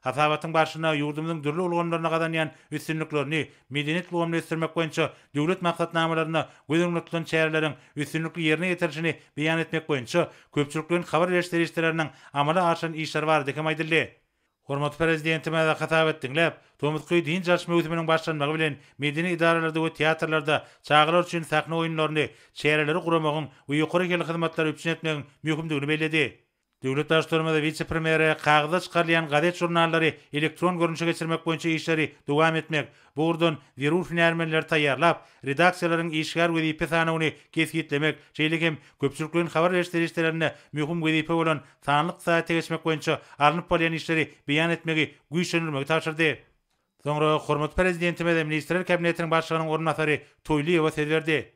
Hasabatyň barşynda ýurdumyzyň dürli ulgamlarynda gazanýan üstünliklerini, medeniýet ulgamyny ösdürmek boýunça döwlet maksatnamalarynda göz öňünde tutulan çäreleriň üstünlikli ýerine ýetirilişini beýan etmek boýunça köpçülikleýin habar beriş serişdeleriniň amala aşyran işleri barada hem aýdyldy. Hormatly Prezidentimize hasap et diňläp, tomusky dynç alyş möwsüminiň başlanmagy bilen medeni edaralarda we teatrlarda çagalar üçin sahna oýunlaryny, çäreleri guramagyň we ýokary hilli hyzmatlary üpjün etmegiň möhümdigini belledi. Döwlet Baştutanymyz wise-premýere kagyzda çykarylýan gazet-žurnallary elektron görnüşe geçirmek boýunça işleri dowam etmek, Bu ugurdan zerur hünärmenleri taýýarlap, redaksiýalaryň işgär wezipe sanawyny kesgitlemek, şeýle hem köpçülikleýin habar beriş serişdelerinde möhüm wezipe bolan sanly ykdysadyýete geçmek boýunça alnyp barylýan işleri beýan etmegi güýçlendirmegi tabşyrdy. Soňra hormatly Prezidentimiz Ministrler Kabinetiniň Başlygynyň orunbasary Toýlyýewa söz berdi.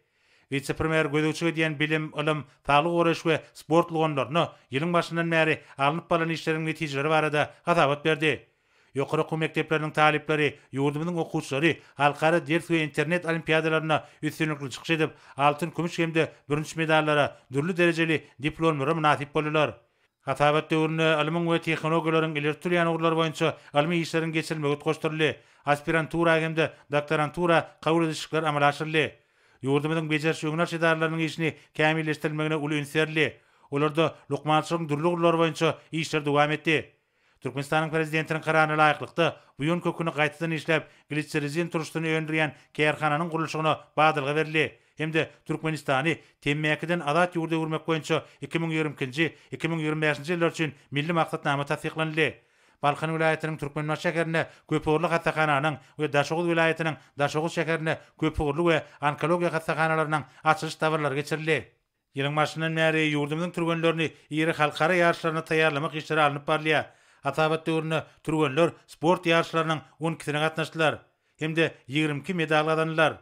Wise-premýer gözegçilik edýän bilim, ylym, saglygy goraýyş we sport ulgamlarynda ýylyň başyndan bäri alnyp barlan işleriň netijeleri barada hasabat berdi. Ýokary okuw mekdepleriniň talyplary, ýurdumyzyň okuwçylary halkara ders we internet olimpiadalarynda üstünlikli çykyş edip, altyn, kümüş hem-de bürünç medallara, dürli derejeli diplomlara mynasyp boldular. Hasabat döwründe ylmyň we tehnologiýalaryň ileri tutulýan ugurlary boýunça ylmy işleriň geçirilmegi utgaşdyryldy, aspirantura hem-de doktorantura kabul edişikler amala aşyryldy. Ýurdumyzyň bejeriş-öňünalyş edaralarynyň işini kämilleşdirilmegine uly üns berildi. Olarda lukmançylygyň dürli ugurlary boýunça işler dowam etdi. Türkmenistanyň Prezidentiniň Kararyna laýyklykda, buýan köküni gaýtadan işläp, gliserrizin turşusyny öndürýän kärhananyň gurluşygyna badalga berildi hem-de Türkmenistany temmäkiden azat ýurda öwürmek boýunça iki müň ýigrimi ikinji, iki müň ýigrimi bäşinji ýyllar üçin milli maksatnama tassyklanyldy. Balkan welaýatynyň Türkmenbaşy şäherinde köpugurly hassahananyň we Daşoguz welaýatynyň Daşoguz şäherinde köpugurly we onkologiýa hassahanalarynyň açylyş dabaralary geçirildi. Ýylyň başyndan bäri ýurdumyzyň türgenlerini iri halkara ýaryşlaryna taýýarlamak işleri alnyp barylýar. Hasabat döwründe türgenler sport ýaryşlarynyň on ikisine gatnaşdylar hem-de ýigrimi iki medal gazandylar.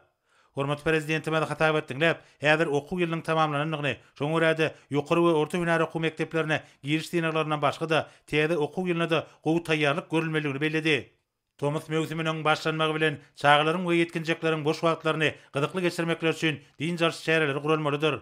Hormatly Prezidentimiz hasabat diňläp, häzir okuw ýylynyň tamamlanandygyny, şoňa görä-de, ýokary we orta hünär okuw mekdeplerine giriş synaglaryndan başga-da, täze okuw ýylyna-da gowy taýýarlyk görülmelidigini belledi. Tomus möwsüminiň başlanmagy bilen çagalaryň we ýetginjekleriň boş wagtlaryny gyzykly geçirmekleri üçin dynç alyş çäreleri guralmalydyr.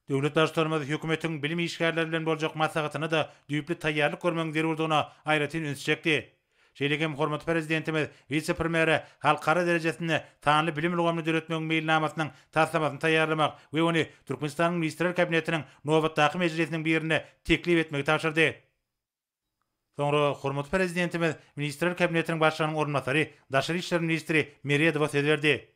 Döwlet Baştutanymyz hökümetiň bilim işgärleri bilen boljak maslahatyna-da düýpli taýýarlyk görmegiň zerurdygyna aýratyn üns çekdi. Şeýle hem hormatly Prezidentimiz wise-premýere halkara derejesinde sanly bilim ulgamyny döretmegiň meýilnamasynyň taslamasyny taýýarlamak we ony Türkmenistanyň Ministrler Kabinetiniň nobatdaky mejlisiniň birinde teklip etmegi tabşyrdy. Soňra hormatly Prezidentimiz Ministrler Kabinetiniň Başlygynyň orunbasary, daşary işler ministri Meredowa söz berdi.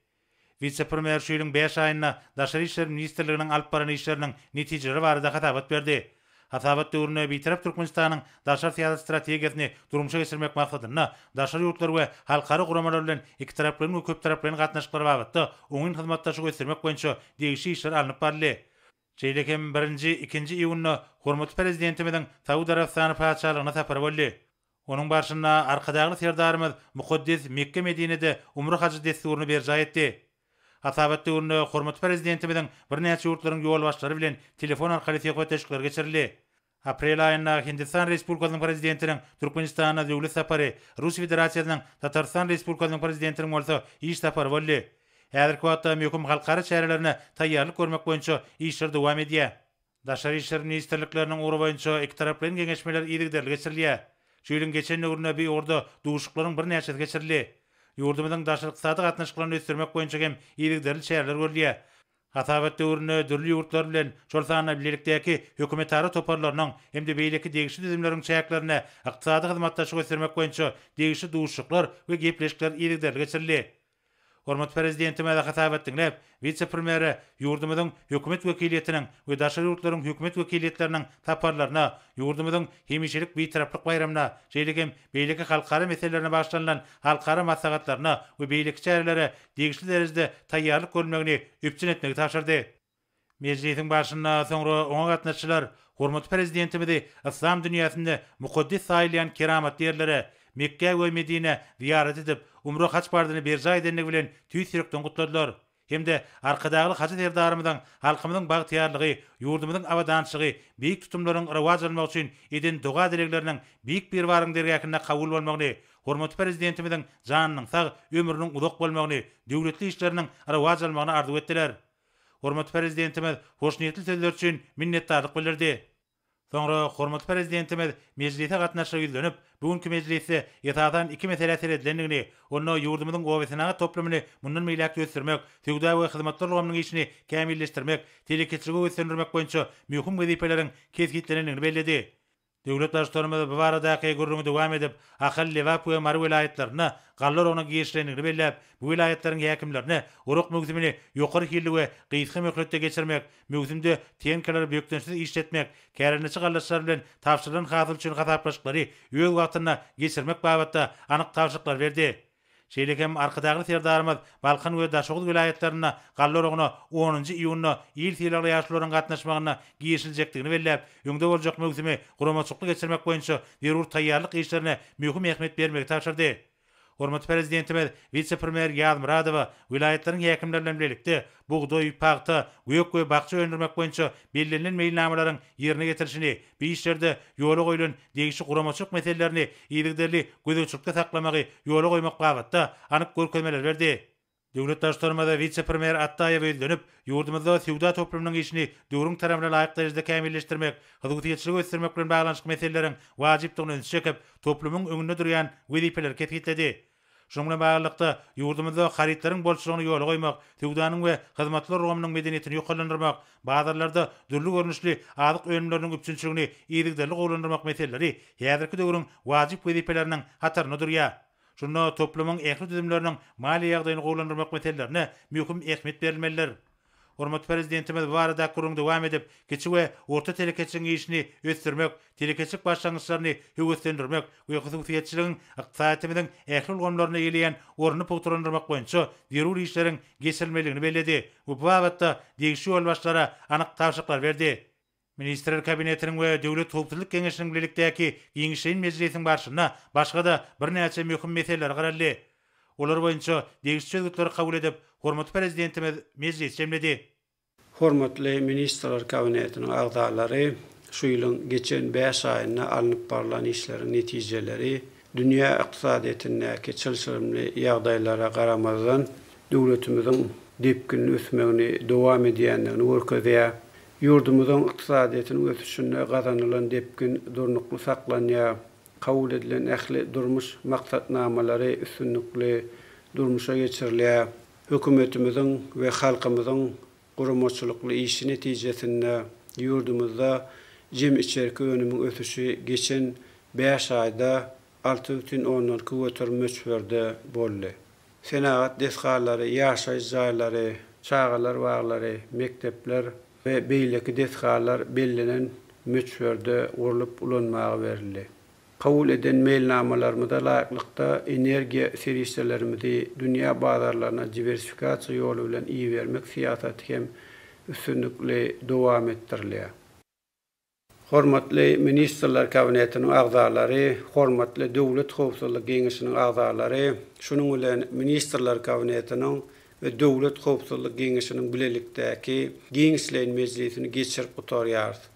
Wise-premýer şu ýylyň bäş aýynda Daşary işler ministrliginiň alyp baran işleriniň netijeleri barada hasabat berdi. Hasabat döwründe Bitarap Türkmenistanyň daşary syýasat strategiýasyny durmuşa geçirmek maksadynda daşary ýurtlar we halkara guramalar bilen ikitaraplaýyn we köptaraplaýyn gatnaşyklar babatda oňyn hyzmatdaşlygy ösdürmek boýunça degişli işler alnyp baryldy. Şeýle hem birinji, ikinji iýunda hormatly Prezidentimiziň Saud Arabystany Patyşalygyna sapary boldy. Onuň barşynda Arkadagly Serdarymyz mukaddes Mekge-Medinede umra-hajy dessuryny berjaý etdi. Hasabat döwründe hormatly Prezidentimiziň birnäçe ýurtlaryň ýolbaşçylary bilen telefon arkaly söhbetdeşlikleri geçirildi. Aprel aýynda Hindistan Respublikasynyň Prezidentiniň Türkmenistana döwlet sapary, Rus Federasiýasynyň, Tatarystan Respublikasynyň Prezidentiniň bolsa iş sapary boldy. Häzirki wagtda möhüm halkara çärelerine taýýarlyk görmek boýunça işler dowam edýär. Daşary işler ministrlikleriniň ugry boýunça ikitaraplaýyn geňeşmeler yzygiderli geçirilýär. Şu ýylyň geçen döwründe bu ugurda duşuşyklaryň birnäçesi geçirildi. Ýurdumyzyň daşary-ykdysady gatnaşyklaryny ösdürmek boýunça hem yzygiderli çäreler görülýär. Hasabat döwründe dürli ýurtlar bilen, şol sanda bilelikdäki hökümetara toparlarynyň hem-de beýleki degişli düzümleriň çäklerinde ykdysady hyzmatdaşlygy ösdürmek boýunça degişli duşuşyklar we gepleşikler yzygiderli geçirildi. Hormatly Prezidentimize hasabat diňläp, wise-premýere ýurdumyzyň Hökümet wekiliýetiniň we daşary ýurtlaryň Hökümet wekiliýetleriniň saparlaryna, ýurdumyzyň hemişelik Bitaraplyk baýramyna, şeýle hem beýleki halkara meselelerine bagyşlanylan halkara maslahatlaryna we beýleki çärelere degişli derejede taýýarlyk görülmegini üpjün etmegi tabşyrdy. Mejlisiň barşynda soňra oňa gatnaşyjylar hormatly Prezidentimizi yslam dünýäsinde mukaddes saýylýan keramatly ýerlere, Mekgä we Medinä zyýarat edip, umra-haç parzyny berjaý edendigi bilen tüýs ýürekden gutladylar. hem-de Arkadagly Hajy Serdarymyzyň halkymyzyň bagtyýarlygy, ýurdumyzyň abadançylygy, beýik tutumlaryň rowaç almagy üçin eden doga-dilegleriniň Beýik Biribaryň dergähinde kabul bolmagyny, hormatly Prezidentimiziň janynyň sag, ömrüniň uzak bolmagyny, döwletli işleriniň rowaç almagyny arzuw etdiler. Hormatly Prezidentimiz hoşniýetli sözler üçin minnetdarlyk bildirdi. Soňra hormatly Prezidentimiz mejlise gatnaşyjylara ýüzlenip, bu günki mejlisde esasan iki meselä seredilendigini, onda ýurdumyzyň obasenagat toplumyny mundan beýläk-de ösdürmek, söwda we hyzmatlar ulgamynyň işini kämilleşdirmek, telekeçiligi höweslendirmek boýunça möhüm wezipeleriň kesgitlenendigini belledi. Döwlet Baştutanymyz bu baradaky gürrüňi dowam edip, Ahal, Lebap we Mary welaýatlarynda galla oragyna girişilendigini belläp, bu welaýatlaryň häkimlerine orak möwsümini ýokary hilli we gysga möhletde geçirmek, Möwsümde tenkalary bökdençsiz işletmek, kärendeçi gallaçylar bilen tabşyrylan hasyl üçin hasaplaşyklary öz wagtynda geçirmek babatda anyk tabşyryklary berdi. Şeýle hem Arkadagly Serdarymyz Balkan we Daşoguz welaýatlarynda galla oragyna onunjy iýunda il sylagly ýaşulularyň gatnaşmagynda girişiljekdigini belläp, öňde boljak möwsümi guramaçykly geçirmek boýunça zerur taýýarlyk işlerine möhüm ähmiýet bermegi tabşyrdy. Hormatly Prezidentimiz wise-premýer Ýazmyradowa welaýatlaryň häkimleri bilen bilelikde bugdaý, pagta, gök we bakja öndürmek boýunça bellenilen meýilnamalaryň ýerine ýetirilişini, bu işlerde ýola goýlan degişli guramaçylyk meselelerini yzygiderli gözegçilikde saklamagy ýola goýmak babatda anyk görkezmeleri berdi. Döwlet Baştutanymyz wise-premýer Atdaýewe ýüzlenip, ýurdumyzda söwda toplumynyň işini döwrüň talabyna laýyk derejede kämilleşdirmek, hyzgytýetçiligi ösdürmek bilen baglanyşykly meseleleriň wajypdygyny ünsi çekip, toplumyň öňünde durýan wezipeleri kesgitledi. Şunuň bilen baglylykda, ýurdumyzda harytlaryň bolçulygyny ýola goýmak, söwdanyň we hyzmatlar ulgamynyň medeniýetini ýokarlandyrmak, bazarlarda dürli görnüşli azyk önümleriniň üpjünçiligini yzygiderli gowulandyrmak meseleleri häzirki döwrüň wajyp wezipeleriniň hatarynda durýar. Şunda toplumyň ähli düzümleriniň maliýe ýagdaýyny gowulandyrmak meselelerine möhüm ähmiýet berilmelidir. Hormatly Prezidentimiz bu barada gürrüňi dowam edip, kiçi we orta telekeçiligiň işini ösdürmek, telekeçilik başlangyçlaryny höweslendirmek we hususyýetçiligiň ykdysadyýetimiziň ähli ulgamlarynda eýeleýän ornuny pugtalandyrmak boýunça zerur işleriň geçirilmelidigini belledi we bu babatda degişli ýolbaşçylara anyk tabşyryklar berdi. Ministrler Kabinetiniň we Döwlet howpsuzlyk geňeşiniň bilelikdäki giňişleýin mejlisiniň barşynda başga-da birnäçe möhüm meseleler garaldy. Olar boýunça degişli çözgütleri kabul edip, hormatly Prezidentimiz mejlis jemledi. Hormatly Ministrler Kabinetiniň agzalary şu ýylyň geçen bäş aýynda alnyp barlan işleriň netijeleri, Dünýä ykdysadyýetindäki çylşyrymly ýagdaýlara garamazdan, döwletimiziň depginli ösmegini dowam edýändigini görkezýär. Ýurdumyzyň ykdysadyýetiniň ösüşinde gazanylan depgin durnukly saklanýar, kabul edilen ähli durmuş maksatnamalary üstünlikli durmuşa geçirilýär. Hökümetimiziň we halkymyzyň guramaçylykly işi netijesinde ýurdumyzda jem içerki önümiň ösüşi geçen bäş aýda alty bütin ondan iki göterim möçberde boldy. Senagat desgalary, ýaşaýyş jaýlary, çagalar baglary, mekdepler we beýleki desgalar bellenen möçberde gurlup ulanmaga berildi. Kabul eden meýilnamalarymyza laýyklykda, energiýa serişdelerimizi dünýä bazarlaryna diwersifikasiýa ýoly bilen ibermek syýasaty hem üstünlikli dowam etdirilýär. Hormatly Ministrler Kabinetiniň agzalary, hormatly Döwlet howpsuzlyk geňeşiniň agzalary, şunuň bilen Ministrler Kabinetiniň we Döwlet howpsuzlyk geňeşiniň bilelikdäki giňişleýin mejlisini geçirip gutarýarys.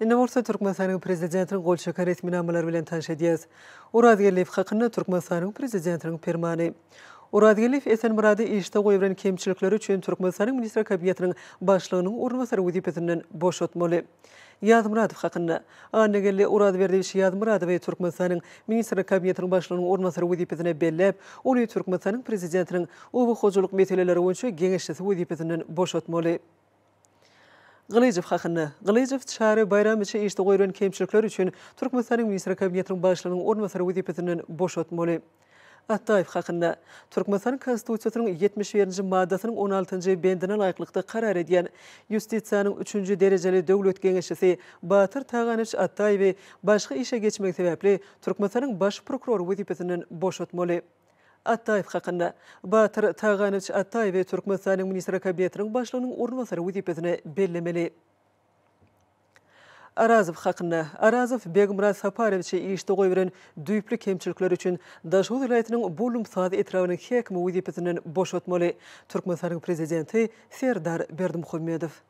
Indi bolsa Türkmenistanyň Prezidentiniň gol çeken resminamalary bilen tanyş edýäs. Orazgeldiýew hakynda Türkmenistanyň Prezidentiniň Permany. Orazgeldiýew Esenmyrady işde goýberen kemçilikleri üçin Türkmenistanyň Ministler Kabinetiniň Başlygynyň orunbasary wezipesinden boşatmaly. Ýazmyradow hakynda. Annageldi Orazberdiýewiç Ýazmyradowy Türkmenistanyň Ministrler Kabinetiniň Başlygynyň orunbasary wezipesine belläp, ony Türkmenistanyň Prezidentiniň Oba hojalyk meseleleri boýunça geňeşçisi wezipesinden boşatmaly. Gylyjow hakynda. Gylyjow Çary Baýramowiçi işde goýlan kemçilikler üçin Türkmenistanyň Ministrler Kabinetiniň Başlygynyň orunbasary wezipesinden boşatmaly. Atdaýew hakynda. Türkmenistanyň Konstitusiýasynyň ýetmiş birinji maddasynyň on altynjy bendine laýyklykda karar edýän Ýustisiýanyň üçünji derejeli döwlet geňeşçisi Batyr Taganowiç Atdaýewi başga işe geçmegi sebäpli Türkmenistanyň Baş prokurory wezipesinden boşatmaly. Ataýew hakynda. Batyr Taganowiç Ataýewi Türkmenistanyň Ministri Kabinetiniň Başlygynyň orunbasary wezipesine bellemeli. Arazow hakynda. Arazow Begmyrat Saparowiçi işde goýberen düýpli kemçilikleri üçin Daşoguz welaýatynyň Bullumsaz etrabynyň häkimi wezipesinden boşatmaly. Türkmenistanyň Prezidenti Serdar Berdimuhamedow.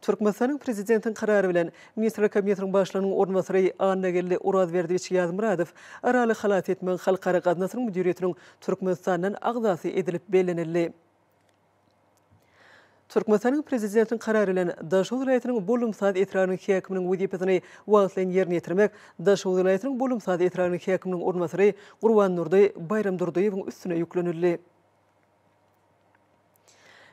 Türkmenistanyň Prezidentiň Karary bilen Ministrler Kabinetiniň Başlygynyň orunbasary Annageldi Orazberdiýewiç Ýazmyradow Araly halas etmegiň Halkara gaznasynyň müdiriýetiniň Türkmenistandan agzasy edilip bellenildi. Türkmenistanyň Prezidentiň Karary bilen Daşoguz welaýatynyň Bollumsaz etrabynyň häkiminiň wezipesini wagtlaýyn ýerine ýetirmek Daşoguz welaýatynyň Bollumsaz etrabynyň häkiminiň orunbasary Gurbandurdy Baýramdurdyýewiň üstüne ýüklenildi.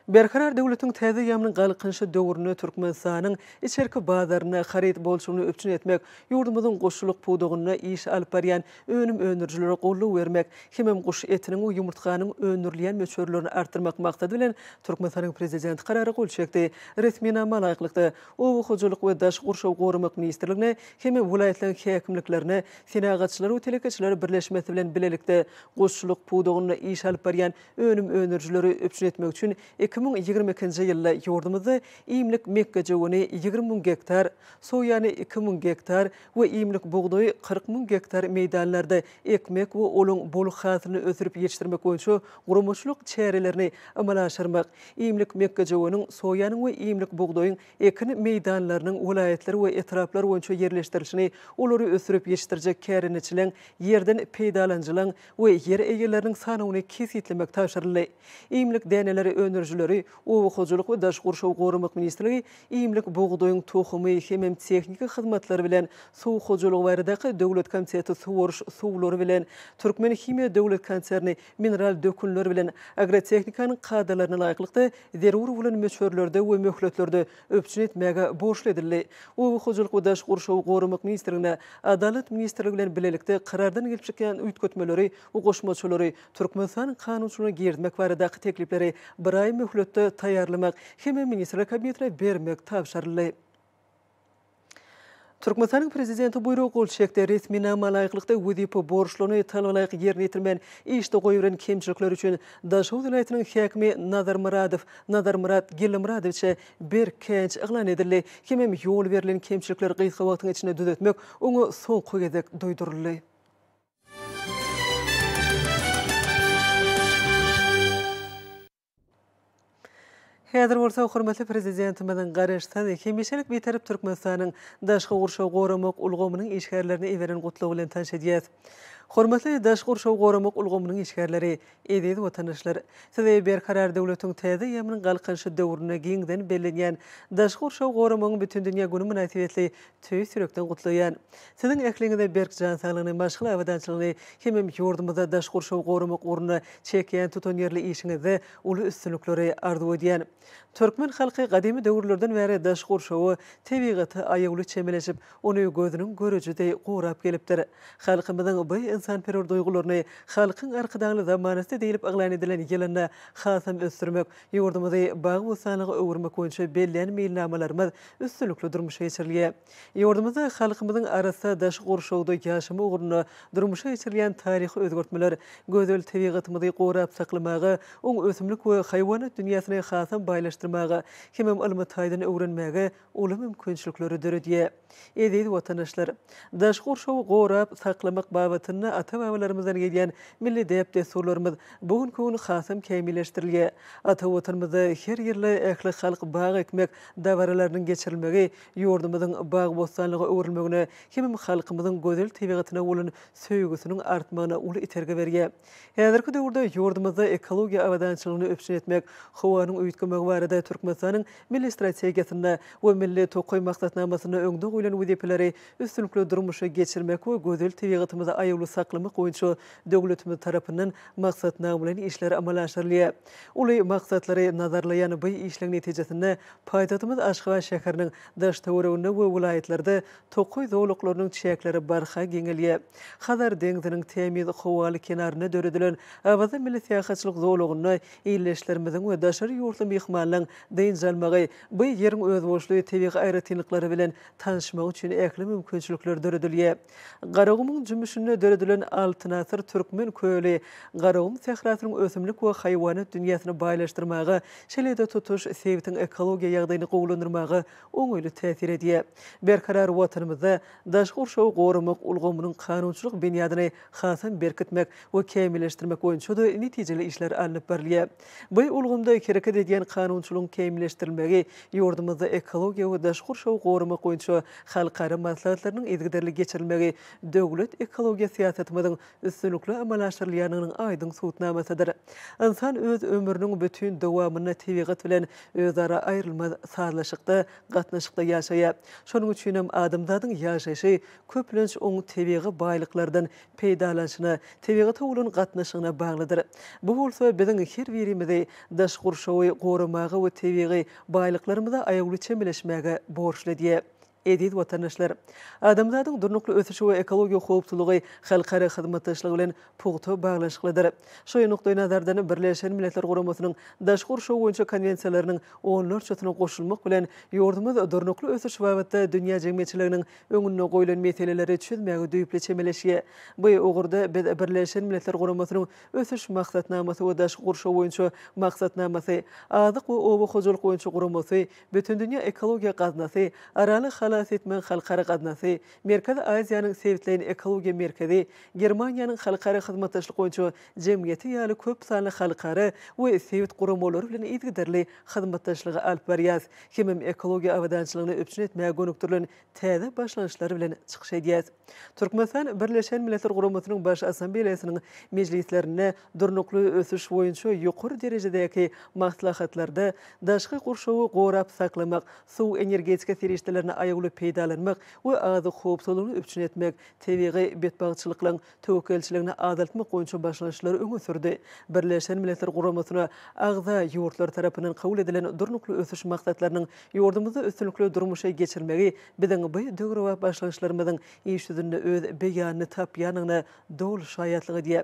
Berkarar döwletiň täze ýaman galkynyşy döwründe Türkmenistanyň içerki bazarynda haryt bolçulygyny üpjün etmek, ýurdumyzyň guşçulyk pudagynda iş alyp barýan önüm öndürijilere goldaw bermek hemem guş etiniň we ýumurtganyň öndürilýän möçberlerini artdyrmak maksady bilen Türkmenistanyň Prezidenti Karara gol çekdi. Resminama laýyklykda, Oba hojalyk we daşky gurşawy goramak ministrligine hem-de welaýatlaryň häkimliklerine Senagatçylar we telekeçiler birleşmesi bilen bilelikde guşçulyk pudagynda iş alyp barýan önüm öndürijileri üpjün etmek üçin iki müň ýigrimi ikinji ýylda ýurdumyzda iýmlik mekgejöweni ýigrimi müň gektar, soýany iki müň gektar we iýmlik bugdaýy kyrk müň gektar meýdanlarda ekmek we olaň bol hasylyny ösdürip ýetişdirmek boýunça guramaçylyk çärelerini amala aşyrmak, iýmlik mekgejöweniň, soýanyň we iýmlik bugdaýyň ekin meýdanlarynyň welaýatlar we etraplar boýunça ýerleşdirilişini, olary ösdürip ýetişdirjek kärendeçileň, ýerden peýdalanyjylaň we ýer eýeleriniň sanawyny kesgitlemek tabşyryldy. Iýmlik däneleri öndürijileri, Oba hojalyk we daş gurşawy goramak ministrligi, Iýmlik bugdaýyň tohumy hemem tehniki hyzmatlar bilen Suw hojalygy baradaky döwlet komiteti suwaryş suwlary bilen Türkmenhimiýa döwlet konserni mineral dökünler bilen agrotehnikanyň kadalaryna laýyklykda zerur bolan möçberlerde we möhletlerde üpjün etmäge borçly edildi. Oba hojalyk we daş gurşawy goramak ministrligine Adalat ministrligi bilen bilelikde karardan gelip çykýan üýtgetmeleri we goşmaçalary Türkmenistanyň kanunçylygyna girizmek baradaky teklipleri bir aý möhletde taýýarlamak hem-de Ministrler Kabinetine bermek tabşyryldy. Türkmenistanyň Prezidenti buýruga gol çekdi. Resminama laýyklykda wezipe borçlaryny talabalaýyk ýerine ýetirmän işde goýberen kemçilikleri üçin Daşoguz welaýatynyň häkimi Nazar Myradow, Nazarmyrat Gellimyradowiçe, berk käýinç yglan edildi hemem ýol berlen kemçilikler gysga wagtyň içinde düzetmek oňa soňky gezek duýduryldy. Häzir bolsa hormatly Prezidentimiziň Garaşsyz, hemişelik Bitarap Türkmenistanyň daşky gurşawy goramak ulgamynyň işgärlerine iberen gutlagy bilen tanyş edýäs. Hormatly daşky gurşawy goramak ulgamynyň işgärleri, Eziz watandaşlar! Sizi Berkarar döwletiň täze eýýamynyň Galkynyşy döwründe giňden bellenýän Daşky gurşawy goramagyň bütindünýä güni mynasybetli tüýs ýürekden gutlaýan. Siziň ähliňize berk jan saglygyny, maşgala abadançylygyny hemem ýurdumyzda daşky gurşawy goramak ugrunda çekýän tutanýerli işiňizde uly üstünlikleri arzuw edýän. Türkmen halky gadymy döwürlerden bäri daş gurşawa, tebigata aýawly çemeleşip, ony gözüniň göreji deý gorap gelipdir. Halkymyzyň bu ynsanperwer duýgularyny Halkyň Arkadagly zamanasy diýlip yglan edilen ýylynda hasam ösdürmek, ýurdumyzy bagy-bossanlyga öwürmek boýunça bellän meýilnamalarymyz üstünlikli durmuşa geçirilýär. Ýurdumyzda halkymyzyň arassa daşky gurşawda ýaşamy ugrunda durmuşa geçirilýän taryhy özgertmeler, gözel tebigatymyzy gorap saklamaga, oňa ösümlik we haýwanat dünýäsini hasam baýlaşdyrmaga hemem ylmy taýdan öwrenmäge uly mümkinçilikleri döredýär. Eziz watandaşlar! Daşky gurşawy gorap saklamak babatynda ata-babalarymyzdan gelýän milli däp-dessurlarymyz bu günki gün hasam kämilleşdirilýär. Ata Watanymyzda her ýylda ählihalk bag ekmek dabaralarynyň geçirilmegi ýurdumyzyň bagy-bossanlyga öwrülmegine hemem halkymyzyň gözel tebigatyna bolan söýgüsiniň artmagyna uly itergi berýär. Häzirki döwürde ýurdumyzda ekologiýa abadançylygyny üpjün etmek, howanyň uýutgamagy barada Türkmenistanyň Milli strategiýasynda we Milli tokaý maksatnamasynda öňde goýlan wezipeleri üstünlikli durmuşa geçirmek we gözel tebigatymyzy aýawly saklamak boýunça döwletimiz tarapyndan maksatnamalaýyn işler amala aşyrylýar. Uly maksatlary nazarlaýan bu işleň netijesinde Paýtagtymyz Aşgabat şäheriniň daş-töwereginde we welaýatlarda tokaý zolaklarynyň çäkleri barha giňelýär. Hazar deňziniň tämiz howaly kenarynda döredilen Awaza milli syýahatçylyk zolagynda ildeşlerimiziň we daşary ýurtly myhmanlaryň dynç almagy, bu ýeriň özboluşly tebigy aýratynlyklary bilen tanşmagy üçin ähli mümkinçilikler döredilýär. Garagumuň jümmüşinde döredilen Altyn asyr Türkmen köli Garagum sährasynyň ösümlik we haýwanat dünýäsini baýlaşdyrmaga, şeýle-de tutuş sebitiň ekologiýa ýagdaýyny gowulandyrmaga oňaýly täsir edýär. Berkarar Watanymyzda daşky gurşawy goramak ulgamynyň kanunçylyk binýadyny hasam berkitmek we kämilleşdirmek boýunça-da netijeli işler alnyp barylýar. Bu ulgamda hereket edýän kanunçylygyň kämilleşdirilmegi ýurdumyzda ekologiýa we daşky gurşawy goramak boýunça halkara maslahatlarynyň yzygiderli geçirilmegi döwlet ekologiýa syýasatymyzyň üstünlikli amala aşyrylýandygynyň aýdyň subutnamasydyr. Ynsan öz ömrüniň bütin dowamynda tebigat bilen özara aýrylmaz sazlaşykda, gatnaşykda ýaşaýar. Şonuň üçinem adamzadyň ýaşaýşy köplenç oň tebigy baýlyklardan peýdalanyşyna, tebigata bolan gatnaşygyna baglydyr. Bu bolsa biziň her birimizi daş gurşawy goramaga we tebigy baýlyklarymyza aýawly çemeleşmäge borçly edýär. Eziz watandaşlar! Adamzadyň durnukly ösüşi we ekologiýa howpsuzlygy halkara hyzmatdaşlygy bilen pugta baglanyşyklydyr. Şu nukdaýnazardan, Birleşen Milletler Guramasynyň Daş gurşaw boýunça konwensiýalarynyň onlarçasyna goşulmak bilen, ýurdumyz durnukly ösüş babatda dünýä jemgyýetçiliginiň öňünde goýlan meseleleri çözmäge düýpli çemeleşýär. Bu ugurda biz Birleşen Milletler Guramasynyň Ösüş maksatnamasy we Daşky gurşaw boýunça maksatnamasy, Azyk we oba hojalyk boýunça guramasy, Bütindünýä ekologiýa gaznasy, Araly halas etmegiň halkara gaznasy, Merkezi Aziýanyň sebitleýin ekologiýa merkezi, Germaniýanyň Halkara hyzmatdaşlyk boýunça jemgyýeti ýaly köp sanly halkara we sebit guramalary bilen yzygiderli hyzmatdaşlygy alyp barýarys hemem ekologiýa abadançylygyny üpjün etmäge gönükdirilen täze başlangyçlar bilen çykyş edýäs. Türkmenistan Birleşen Milletler Guramasynyň Baş Assambeleýasynyň mejlislerinde, durnukly ösüş boýunça ýokary derejedäki maslahatlarda daşky gurşawy gorap saklamak, suw-energetika serişdelerini aýawly peýdalanmak we azyk howpsuzlygyny üpjün etmek, tebigy betbagtçylyklaryň töwekgelçiligini azaltmak boýunça başlanşyklary öňe sürdi. Birleşen Milletler Guramasyna agza ýurtlar tarapyndan kabul edilen Durnukly ösüş maksatlarynyň ýurdumyzda üstünlikli durmuşa geçirilmegi biziň bu döwrebap başlangyçlarymyzyň iş ýüzünde öz beýanyny tapýandygyna doly şaýatlyk edýär.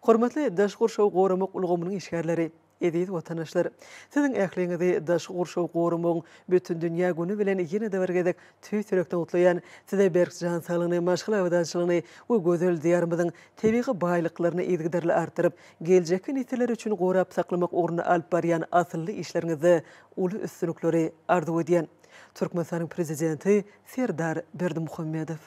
Hormatly daşky gurşawy goramak ulgamynyň işgärleri! Eziz watanaşlar! Siziň ähliňizi Daşky gurşawy goramagyň Bütindünýä güni bilen ýene-de bir gezek tüýs ýürekden gutlaýan. Size berk jan saglygyny, maşgala abadançylygyny we gözel Diýarymyzyň tebigy baýlyklaryny yzygiderli artdyryp, geljekki nesiller üçin gorap saklamak ugrunda alyp barýan asylly işleriňizde uly üstünlikleri arzuw edýän. Türkmenistanyň Prezidenti Serdar Berdimuhamedow.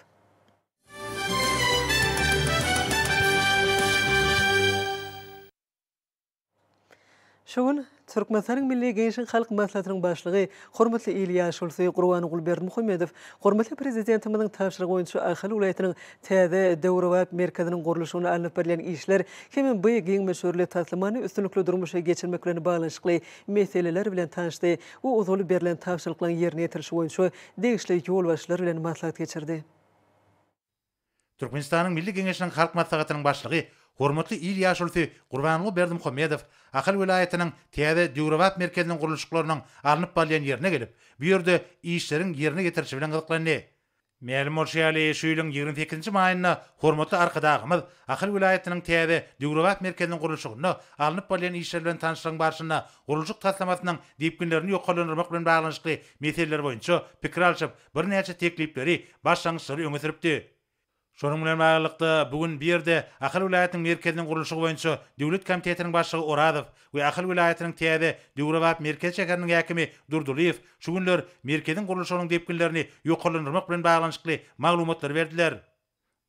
Şu gün Türkmenistanyň Milli Geňeşiň Halk Maslahatynyň Başlygy, hormatly il ýaşulusy Gurbanguly Berdimuhamedow hormatly Prezidentimiziň tabşyrygy boýunça Ahal welaýatynyň täze, döwrebap merkeziniň gurluşygyna alnyp barylýan işler hem-ä bu giň möçberli taslamany üstünlikli durmuşa geçirmek bilen baglanyşykly meseleler bilen tanyşdy we uzaly berlen tabşyryklaryň ýerine ýetirilişi boýunça degişli ýolbaşçylar bilen maslahat geçirdi. Türkmenistanyň Milli Geňeşiniň Halk Maslahatynyň Başlygy, hormatly il ýaşulusy Gurbanguly Berdimuhamedow Ahal welaýatynyň täze döwrebap merkeziniň gurluşyklarynyň alnyp barylýan ýerine gelip, bu ýerde işleriň ýerine ýetirilişi bilen gyzyklandy. Mälim bolşy ýaly, şu ýylyň ýigrimi sekizinji maýynda hormatly Arkadagymyz Ahal welaýatynyň täze döwrebap merkeziniň gurluşygynda alnyp barylýan işler bilen tanyşlygyň barşynda gurluşyk taslamasynyň depginlerini ýokarlandyrmak bilen baglanyşykly meseleler boýunça pikir alşyp, birnäçe teklipleri, başlangyçlary öňe sürüpdi. Şonuň bilen baglylykda, bu gün bu ýerde Ahal welaýatynyň merkeziniň gurluşygy boýunça döwlet komitetiniň başlygy Orazow we Ahal welaýatynyň täze, döwrebap merkez şäheriniň häkimi Durdylyýew şu günler merkeziň gurluşygynyň depginlerini ýokarlandyrmak bilen baglanyşykly maglumatlary berdiler.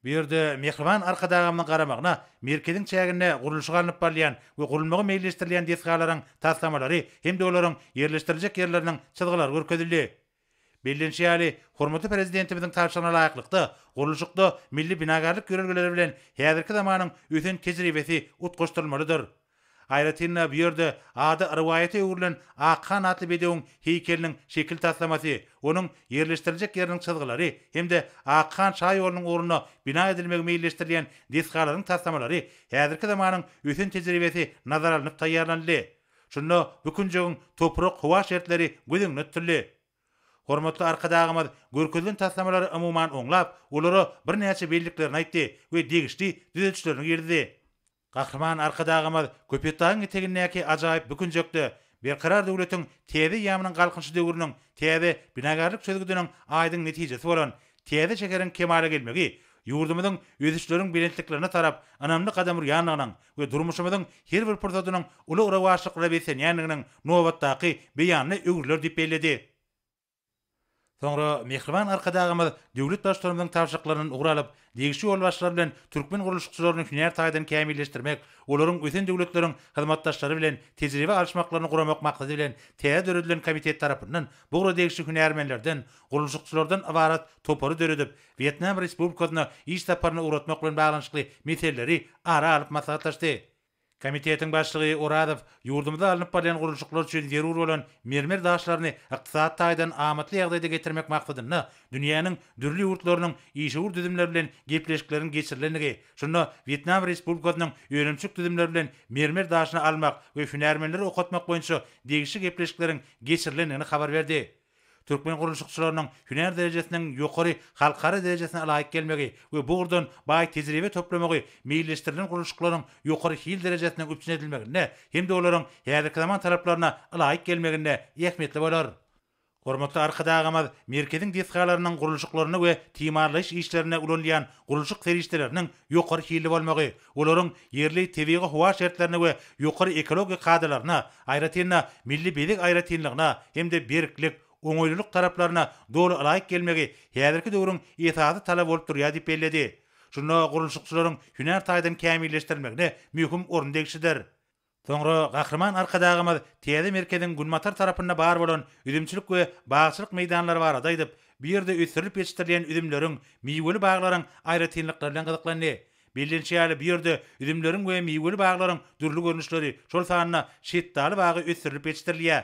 Bu ýerde Mähriban Arkadagymyzyň garamagyna merkeziň çäginde gurluşygy alnyp barylýan we gurulmagy meýilleşdirilýän desgalaryň taslamalary hem-de olaryň ýerleşdiriljek ýerleriniň çyzgylary görkezildi. Bellenişi ýaly, hormatly Prezidentimiziň tabşyrygyna laýyklykda, gurluşykda milli binagärlik ýörelgeleri bilen häzirki zamanyň ösen tejribesi utgaşdyrylmalydyr. Aýratyn-da, bu ýerde ady rowaýata öwrülen Akhan atly bedewiň heýkeliniň şekil taslamasy, onuň ýerleşdiriljek ýeriniň çyzgylary hem-de Akhan şa ýolunyň ugrunda bina edilmegi meýilleşdirilýän desgalaryň taslamalary häzirki zamanyň ösen tejribesi nazara alnyp taýýarlanyldy. Şunda bu künjegiň toprak-howa şertleri göz öňünde tutuldy. Hormatly Arkadagymyz görkezilen taslamalary umuman oňlap, olara birnäçe belliklerini aýtdy we degişli düzedişlerini girizdi. Gahryman Arkadagymyz Köpetdagyň etegindäki ajaýyp bu künjekde Berkarar döwletiň täze eýýamynyň Galkynyşy döwrüniň täze binagärlik çözgüdiniň aýdyň netijesi bolan täze şäheriň kemala gelmegi ýurdumyzyň ösüşleriň belentliklerine tarap ynamly gadam urýandygynyň we durmuşymyzyň her bir pursadynyň uly rowaçlyklara beslenýändiginiň nobatdaky beýanyna öwrüler diýip belledi. Soňra mähriban Arkadagymyz döwlet Baştutanymyzyň tabşyryklaryndan ugur alyp, degişli ýolbaşçylar bilen türkmen gurluşykçylaryny hünär taýdan kämilleşdirmek, olaryň ösen döwletleriň hyzmatdaşlary bilen tejribe alyşmaklaryny guramak maksady bilen täze döredilen komitet tarapyndan bugra degişli hünärmenlerden, gurluşykçylardan ybarat topary döredip, Wýetnam Respublikasyna iş saparyna ugratmak bilen baglanyşykly meseleleri ara alyp maslahatlaşdy. Komitetiň başlygy Orazow ýurdumyzda alnyp barylýan gurluşyklar üçin zerur bolan mermer daşlaryny ykdysady taýdan amatly ýagdaýda getirmek maksadynda dünýäniň dürli ýurtlarynyň işewür düzümleri bilen gepleşikleriň geçirilendigi, şunda Wýetnam Respublikasynyň önümçilik düzümleri bilen mermer daşyny almak we hünärmenleri okatmak boýunça degişli gepleşikleriň geçirilendigini habar berdi. Türkmen gurluşykçylarynyň hünär derejesiniň ýokary halkara derejesine laýyk gelmegi we bu ugurdan baý tejribe toplamagy meýilleşdirilen gurluşyklaryň ýokary hil derejesiniň üpjün edilmeginde hem-de olaryň häzirki zaman talaplaryna ylaýyk gelmeginde ähmiýetli bolar. Hormatly Arkadagymyz merkeziň desgalarynyň gurluşyklarynda we timarlaýyş işlerinde ulanylýan gurluşyk serişdeleriniň ýokary hilli bolmagy, Olaryň ýerli tebigy-howa şertlerine we ýokary ekologik kadalaryna, aýratyn-da, milli bezeg aýratynlygyna hem-de berklik, oňaýlylyk taraplaryna doly ylaýyk gelmegi häzirki döwrüň esasy talaby bolup durýar diýip belledi. Şunda gurluşykçylaryň hünär taýdan kämilleşdirilmegine möhüm orun degişlidir. Soňra Gahryman Arkadagymyz täze merkeziň günbatar tarapynda bar bolan üzümçilik we bagçylyk meýdanlary barada aýdyp, bu ýerde ösdürilip ýetişdirilýän üzümleriň, miweli baglaryň aýratynlyklary bilen gyzyklandy. Bellenişi ýaly, bu ýerde üzümleriň we miweli baglaryň dürli görnüşleri, şol sanda şetdaly bagy ösdürilip ýetişdirilýär.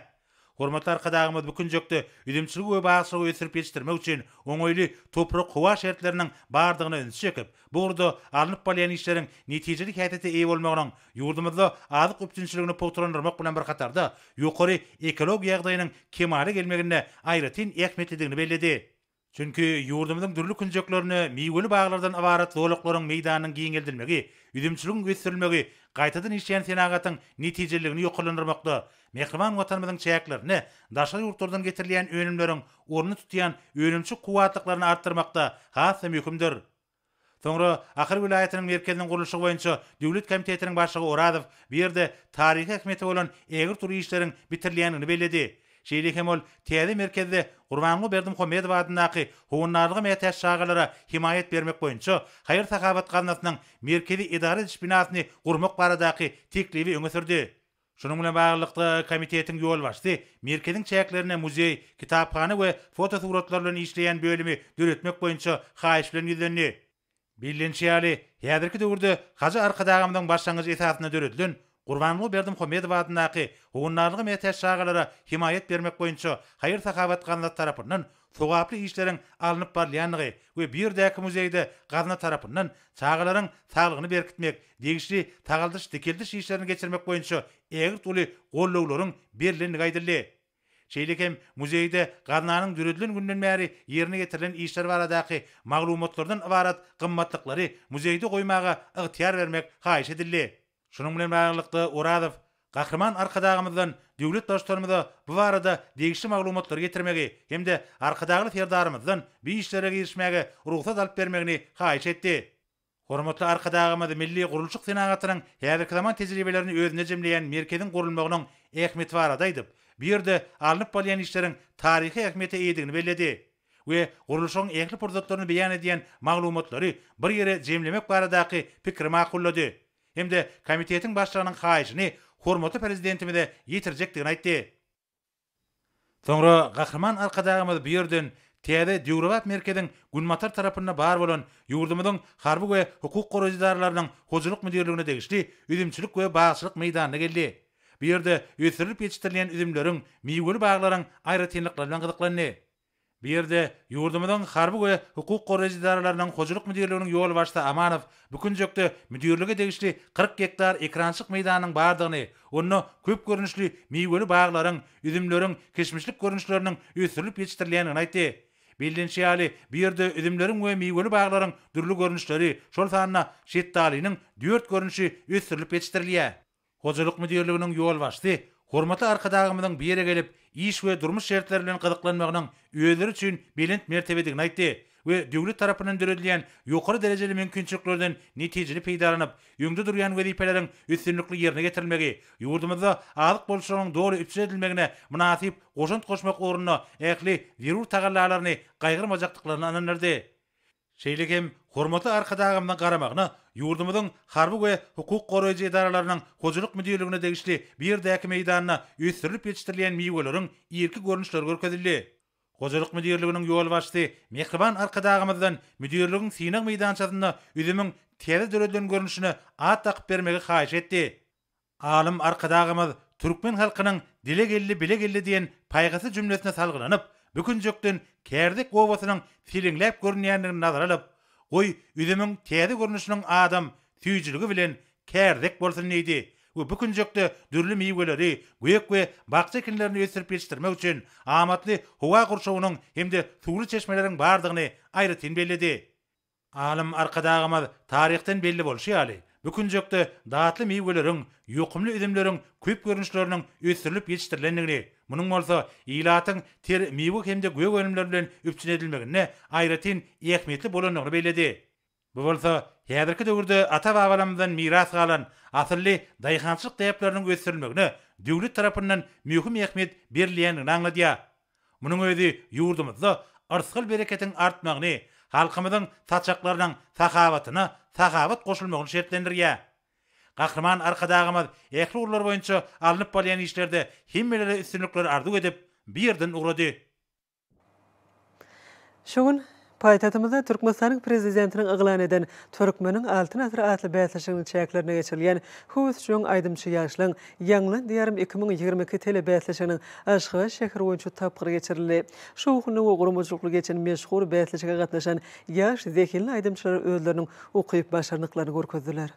Hormatly Arkadagymyz bu künjekde üzümçiligi we bagçylygy ösdürip ýetişdirmek üçin oňaýly toprak-howa şertleriniň bardygyna ünsi çekip, bu ugurda alnyp barylýan işleriň netijeli häsiýete eýe bolmagynyň ýurdumyzda azyk üpjünçiligini pugtalandyrmak bilen bir hatarda, ýokary ekologik ýagdaýynyň kemala gelmeginde aýratyn ähmiýetlidigini belledi. Çünki ýurdumyzyň dürli künjeklerine miweli baglardan ybarat zolaklaryň meýdanynyň giňeldilmegi, üzümçiligiň ösdürilmegi gaýtadan işleýän senagatyň netijeliligini ýokarlandyrmakda, mähriban Watanymyzyň çäklerine daşary ýurtlardan getirilýän önümleriň ornuny tutýan önümçi kuwwatlyklaryny artdyrmakda has-da möhümdir. Soňra Ahal welaýatynyň merkeziniň gurluşygy boýunça döwlet komitetiniň başlygy Orazow bu ýerde taryhy ähmiýeti bolan ägirt uly işleriň bitirilýändigini belledi. Şeýle hem ol täze merkezde Gurbanguly Berdimuhamedow adyndaky Howandarlyga mätäç çagalara hemaýat bermek boýunça haýyr-sahawat gaznasynyň merkezi edara ediş binasyny gurmak baradaky teklibi öňe sürdi. Şunuň bilen baglylykda, komitetiň ýolbaşçysy merkeziň çäklerinde muzeý, kitaphana we fotosuratlar bilen işleýän bölümi döretmek boýunça haýyş bilen ýüzlendi. Bellenişi ýaly, häzirki döwürde Hajy Arkadagymyzyň başlangyjy esasynda döredilen Gurbanguly Berdimuhamedow adyndaky Howandarlyga mätäç çagalara hemaýat bermek boýunça haýyr-sahawat gaznasy tarapyndan sogaply işleriň alnyp barylýandygy we bu ýerdäki muzeýde gazna tarapyndan çagalaryň saglygyny berkitmek, degişli sagaldyş-dikeldiş işlerini geçirmek boýunça ägirt uly goldawlaryň berlendigi aýdyldy. Şeýle hem muzeýde gaznanyň döredilen günden bäri ýerine ýetirilen işler baradaky maglumatlardan ybarat gymmatlyklary muzeýde goýmaga ygtyýar bermek haýyş edildi. Şunuň bilen baglylykda, Orazow Gahryman Arkadagymyzdan döwlet Baştutanymyza bu barada degişli maglumatlary getirmegi hem-de Arkadagly Serdarymyzdan bu işlere girişmäge rugsat alyp bermegini haýyş etdi. Hormatly Arkadagymyz milli gurluşyk senagatynyň häzirki zaman tejribelerini özünde jemleýän merkeziň gurulmagynyň ähmiýeti barada aýdyp, bu ýerde alnyp barylýan işleriň taryhy ähmiýete eýedigini belledi. we gurluşygyň ähli pursatlaryny beýan edýän maglumatlary bir ýere jemlemek baradaky pikiri makullady hem-de komitetiň başlygynyň haýyşyny hormatly Prezidentimize ýetirjekdigini aýtdy. Soňra Gahryman Arkadagymyz bu ýerden täze döwrebap merkeziň günbatar tarapynda bar bolan ýurdumyzyň harby we hukuk goraýjy edaralarynyň hojalyk müdirligine degişli üzümçilik we bagçylyk meýdanyna geldi Bu ýerde ösdürilip ýetişdirilýän üzümleriň, miweli baglaryň aýratynlyklary bilen gyzyklandy. Bu ýerde ýurdumyzyň harby we hukuk goraýjy edaralarynyň hojalyk müdirliginiň ýolbaşçysy Amanow bu künjekde müdirlige degişli kyrk gektar ekrançyk meýdanynyň bardygyny, onda köp görnüşli miweli baglaryň, üzümleriň, kişmişlik görnüşleriniň ösdürilip ýetişdirilýändigini aýtdy. Bellenişi ýaly, bu ýerde üzümleriň we miweli baglaryň dürli görnüşleri, şol sanda şetdalynyň dört görnüşi ösdürilip ýetişdirilýär. Hojalyk müdirliginiň ýolbaşçysy hormatly Arkadagymyzyň bu ýere gelip, iş we durmuş şertleri bilen gyzyklanmagynyň özleri üçin belent mertebedigini aýtdy we döwlet tarapyndan döredilýän ýokary derejeli mümkinçiliklerden netijeli peýdalanyp, öňde durýan wezipeleriň üstünlikli ýerine getirilmegi, ýurdumyzda azyk bolçulygynyň doly üpjün edilmegine mynasyp goşant goşmak ugrunda ähli zerur tagallalaryny gaýgyrmajakdyklaryny ynandyrdy. Şeýle hem hormatly Arkadagymyzyň garamagyna ýurdumyzyň harby we hukuk goraýjy edaralarynyň hojalyk müdirligine degişli bu ýerdäki meýdanda ösdürilip ýetişdirilýän miweleriň irki görnüşleri görkezildi. Hojalyk müdirliginiň ýolbaşçysy mähriban Arkadagymyzdan müdirligiň synag meýdançasynda üzümiň täze döredilen görnüşine at dakyp bermegi haýyş etdi. Alym Arkadagymyz türkmen halkynyň Dile geldi, bile geldi diýen paýhasly jümlesine salgylanyp, bu künjekden Kärdek obasynyň seleňläp görünýändigini nazara alyp, Goý, üzümiň täze görnüşiniň adam süýjüligi bilen Kärdek bolsun diýdi we bu künjekde dürli miweleri, gök we bakja ekinlerini ösdürip ýetişdirmek üçin amatly howa gurşawynyň hem-de suwly çeşmeleriň bardygyny aýratyn belledi. Alym Arkadagymyz taryhdan belli bolşy ýaly, bu künjekde datly miweleriň, ýokumly üzümleriň köp görnüşleriniň ösdürilip ýetişdirilendigini, munuň bolsa ilatyň ter miwe hem-de gök önümler bilen üpjün edilmeginde aýratyn ähmiýetli bolandygyny belledi. Bu bolsa häzirki döwürde ata-babalarymyzdan miras galan asylly daýhançylyk däpleriniň ösdürilmegine döwlet tarapyndan möhüm ähmiýet berilýändigini aňladýar. Munuň özi ýurdumyzda yrsgal-bereketiň artmagyny, halkymyzyň saçaklarynyň sahawatyna sahawat goşulmagyny şertlendirýär. Gahryman Arkadagymyz ähli ugurlar boýunça alnyp barylýan işlerde hemmelere üstünlikler arzuw edip, bu ýerden ugrady. Şu gün Paýtagtymyzda Türkmenistanyň Prezidentiniň yglan eden Türkmeniň Altyn asyry atly bäsleşiginiň çäklerinde geçirilýän Höwes jöň aýdymçy ýaşlaň Ýaňlan Diýarym iki müň ýigrimi iki telebäsleşiginiň Aşgabat şäheri boýunça tapgyry geçirildi. Şowhunly we guramaçylykly geçen meşhur bäsleşige gatnaşan ýaş zehinli aýdymçylar özleriniň ukyp-başarnyklaryny görkezdiler.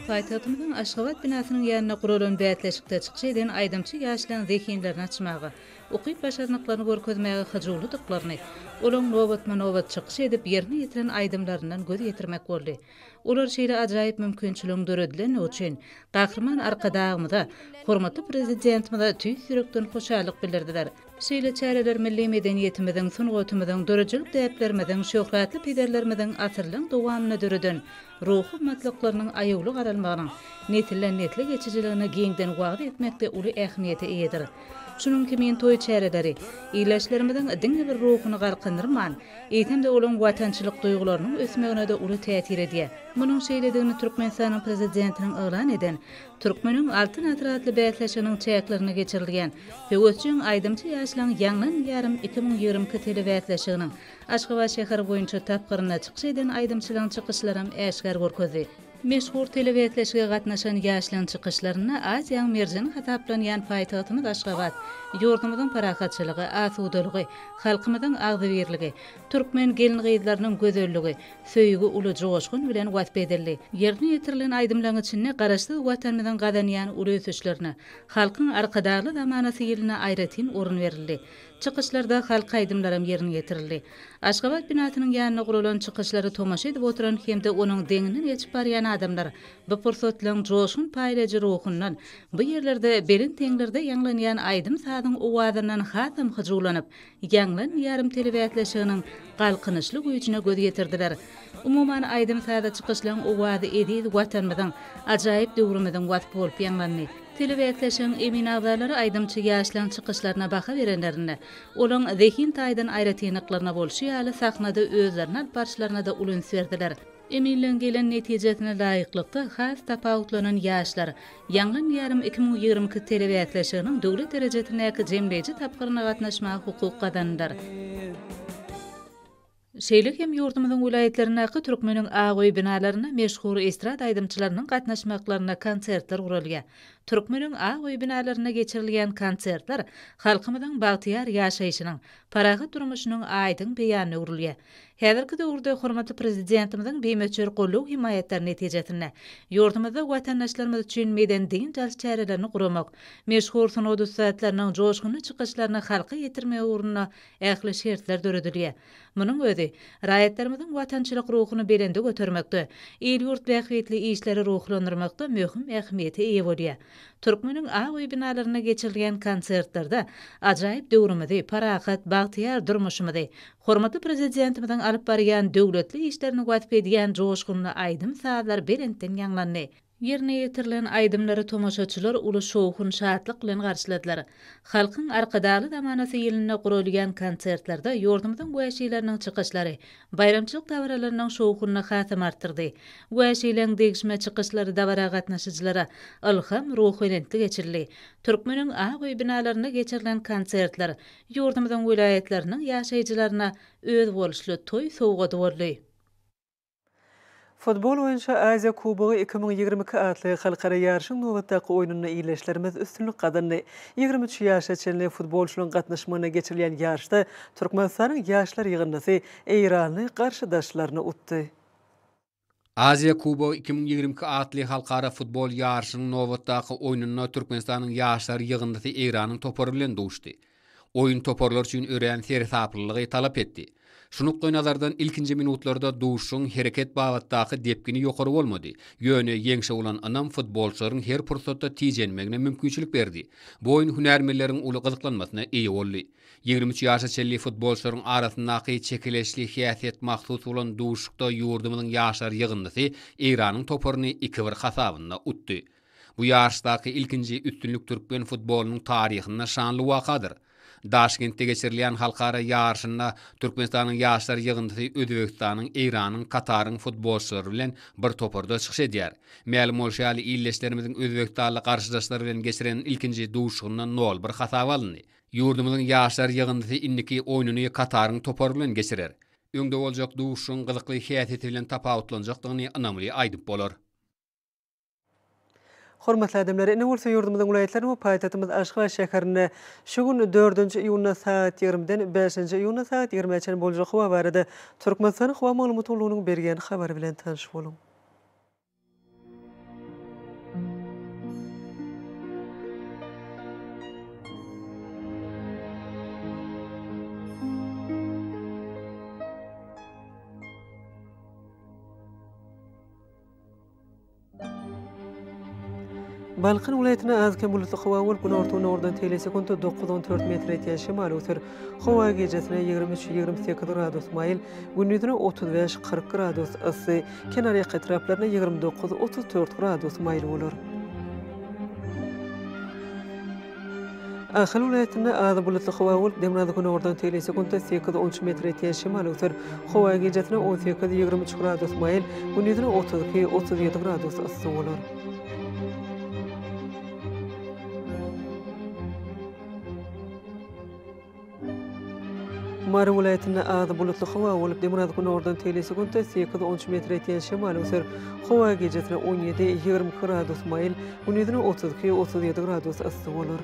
Paýtagtymyzyň Aşgabat binasynyň ýanynda guralan bäsleşikde çykyş eden aýdymçy ýaşlaryň zehinlerini açmaga, ukyp-başarnyklaryny görkezmäge hyjuwlydyklaryny, olaryň nobatma-nobat çykyş edip, ýerine ýetiren aýdymlaryndan göz ýetirmek boldy. Olar şeýle ajaýyp mümkinçiligiň döredilendigi üçin Gahryman Arkadagymyza, hormatly Prezidentimize tüýs ýürekden hoşallyk bildirdiler. Şeýle çäreler milli medeniýetimiziň, sungatymyzyň, döredijilik däplerimiziň, şöhratly pederlerimiziň asyrlaryň dowamynda döreden ruhy gymmatlyklarynyň aýawly garalmagynyň nesilden-nesle geçijiligini giňden wagyz etmekde uly ähmiýete eýedir. Şunuň kimin toý çäreleri ildeşlerimiziň diňe bir ruhuny galkyndyrman, eýsem-de olaň watançylyk duýgularynyň ösmegine-de uly täsir edýär. Munuň şeýledigini Türkmenistanyň Prezidentiniň yglan eden Türkmeniň Altyn asyry atly bäsleşiginiň çäklerinde geçirilýän Höwesjeň aýdymçy ýaşlaryň Ýaňlan ýarym iki müň ýigrimi iki telebäsleşiginiň Aşgabat şäheri boýunça tapgyrynda çykyş eden aýdymçylaryň çykyşlaram äşgär görkezdi. Meşhur telebäsleşige gatnaşan ýaşlaryň çykyşlarynda Aziýaň merjeni hasaplanýan paýtagtymyz Aşgabat, ýurdumyzyň parahatçylygy, asudalygy, halkymyzyň agzybirligi, Türkmen gelin-gyzlarynyň gözelligi, söýgi uly joşgun bilen wasp edildi. Ýerine ýetirilen aýdymlaryň içinde Garaşsyz Watanymyzyň gazanýan uly ösüşlerine, Halkyň Arkadagly zamanasy ýylyna aýratyn orun berildi. Çykyşlarda halk aýdymlaram ýerine ýetirildi. Aşgabat binasynyň ýanynda guralan çykyşlary tomaşa edip oturan hem-de onuň deňinden geçip barýan adamlar bu pursatlaryň joşgun paýlaýjy ruhundan, bu ýerlerde belent deňlerde ýaňlanýan aýdym-sazyň owazyndan hasam hyjuwlanyp, Ýaňlan ýarym telebäsleşiginiň galkynyşly güýjüne göz ýetirdiler. Umuman, aýdym-saza çykyşlaryň owazy eziz Watanymyzyň, ajaýyp döwrümiziň wasp bolup ýaňlandy. Telebäsleşigiň emin agzalary aýdymçy ýaşlaryň çykyşlaryna baha berenlerinde, olaryň zehin taýdan aýratynlyklaryna bolşy ýaly, sahnada özlerini alyp barşlaryna-da uly üns berdiler. Emeliň gelen netijesine laýyklykda, has tapawutlanan ýaşlar, Ýaňlan ýarym iki müň ýigrimi iki telebäsleşiginiň döwlet derejesindäki jemleýji tapgyryna gatnaşmaga hukuk gazandylar. Şeýle hem ýurdumyzyň welaýatlaryndaky Türkmeniň ak öý binalarynda meşhur estrada aýdymçylarynyň gatnaşmaklarynda konsertler guralýar. Türkmeniň ak öý binalarynda geçirilýän konsertler halkymyzyň bagtyýar ýaşaýşynyň, parahat durmuşynyň aýdyň beýanyna öwrülýär. Häzirki döwürde hormatly Prezidentimiziň bimöçber goldaw-hemaýatlary netijesinde, ýurdumyzda watandaşlarymyz üçin medeni-dynç alyş çärelerini guramak, meşhur sungat ussatlarynyň joşgunly çykyşlaryny halka ýetirmek ugrunda ähli şertler döredilýär. Munuň özi, raýatlarymyzyň watançylyk ruhuny belende götermekde, il-ýurt bähbitli işleri ruhlandyrmakda möhüm ähmiýete eýe bolýar. Türkmeniň ak öý binalarynda geçirilýän konsertlerde ajaýyp döwrümizi, parahat, bagtyýar durmuşymyzy, Hormatly Prezidentimiziň alyp barýan döwletli işlerini wasp edýän joşgunly aýdym-sazlar belentden ýaňlandy. Ýerine ýetirilen aýdymlary tomaşaçylar uly şowhun-şatlyk bilen garşyladylar. Halkyň Arkadagly zamanasy ýylynda guralýan konsertlerde ýurdumyzyň wäşileriniň çykyşlary baýramçylyk dabaralarynyň şowhunyny hasam artdyrdy. Wäşileň degişme çykyşlary dabara gatnaşyjylara ylham, ruhubelentlik eçildi. Türkmeniň ak öý binalarynda geçirilen konsertler Ýurdumyzyň welaýatlarynyň ýaşaýjylaryna özboluşly toý sowgady boldy. Futbol boýunça Aziýa kubogy iki müň ýigrimi iki atly halkara ýaryşyň nobatdaky oýnunda ildeşlerimiz üstünlik gazandy. Ýigrimi üç ýaşa çenli futbolçylaryň gatnaşmagynda geçirilýän ýaryşda Türkmenistanyň ýaşlar ýygyndysy eýranly garşydaşlaryny utdy. Aziýa Kubogy iki müň ýigrimi iki atly halkara futbol ýaryşynyň nobatdaky oýnunda Türkmenistanyň ýaşlar ýygyndysy Eýranyň topary bilen duşdy. Oýun toparlar üçin örän seresaplylygy talap etdi. Şu nukdaýnazardan ilkinji minutlarda duşuşygyň hereket babatdaky depgini ýokary bolmady, ýöne ýeňşe bolan ynam futbolçylaryň her pursatda tijenmegine mümkinçilik berdi. Bu oýun hünärmenleriň uly gyzyklanmasyna eýe boldy. Ýigrimi üç ýaşa çenli futbolçylaryň arasyndaky çekeleşli häsiýet mahsus bolan duşuşykda ýurdumyzyň ýaşlar ýygyndysy Eýranyň toparyny iki-bir hasabynda utdy. Bu ýaryşdaky ilkinji üstünlik türkmen futbolynyň taryhynda şanly wakadyr. Daşkentde geçirilýän halkara ýaryşynda Türkmenistanyň ýaşlar ýygyndysy Özbegistanyň, Eýranyň, Kataryň futbolçylary bilen bir toparda çykyş edýär. Mälim bolşy ýaly, ildeşlerimiziň özbegistanly garşydaşlary bilen geçiren ilkinji duşuşygynda nol-bir hasaba alyndy. Ýurdumyzyň ýaşlar ýygyndysy indiki oýnuny Kataryň topary bilen geçirer. Öňde boljak duşuşygyň gyzykly häsiýeti bilen tapawutlanjakdygyny ynamly aýdyp bolar. Hormatly adamlar, ine bolsa ýurdumyzyň welaýatlaryny we paýtagtymyz Aşgabat şäherini şu gün dördünji iýunda sagat ýigrimiden bäşinji iýunda sagat ýigrimä çenli boljak howa barada Türkmenistanyň Howa maglumat gullugynyň berýän habary bilen tanyş boluň. Balkan welaýatynda az-kem bulutly howa bolup, günorta-gündogardan teýlä sekuntda dokuz-on dört metr ýetýän şemal öser. Howa gijesi ýigrimi üç-ýigrimi sekiz gradus maýyl, gündiz otuz bäş-kyrk gradus yssy. Kenarýaka etraplarynda ýigrimi dokuz, otuz dört gradus maýyl bolar. Ahal welaýatynda azy bulutly howa bolup, demirgazyk günordan tel sekuntda sekiz, on üç metr etýän şemal öwser. Howa gijesine on sekiz, ýigrimi üç gradus maýyl, gündizine otuz iki, otuz ýedi gradus yssy bolar. Mary welaýatynda azy bulutly howa bolup, demirgaz-günordan tegelesi-gündüz sekiz, on üç metre ýetýän şemal öser. Howa gijesine on ýedi, ýigrimi iki gradus maýyl, gündizine otuz iki, otuz ýedi gradus yssy bolar.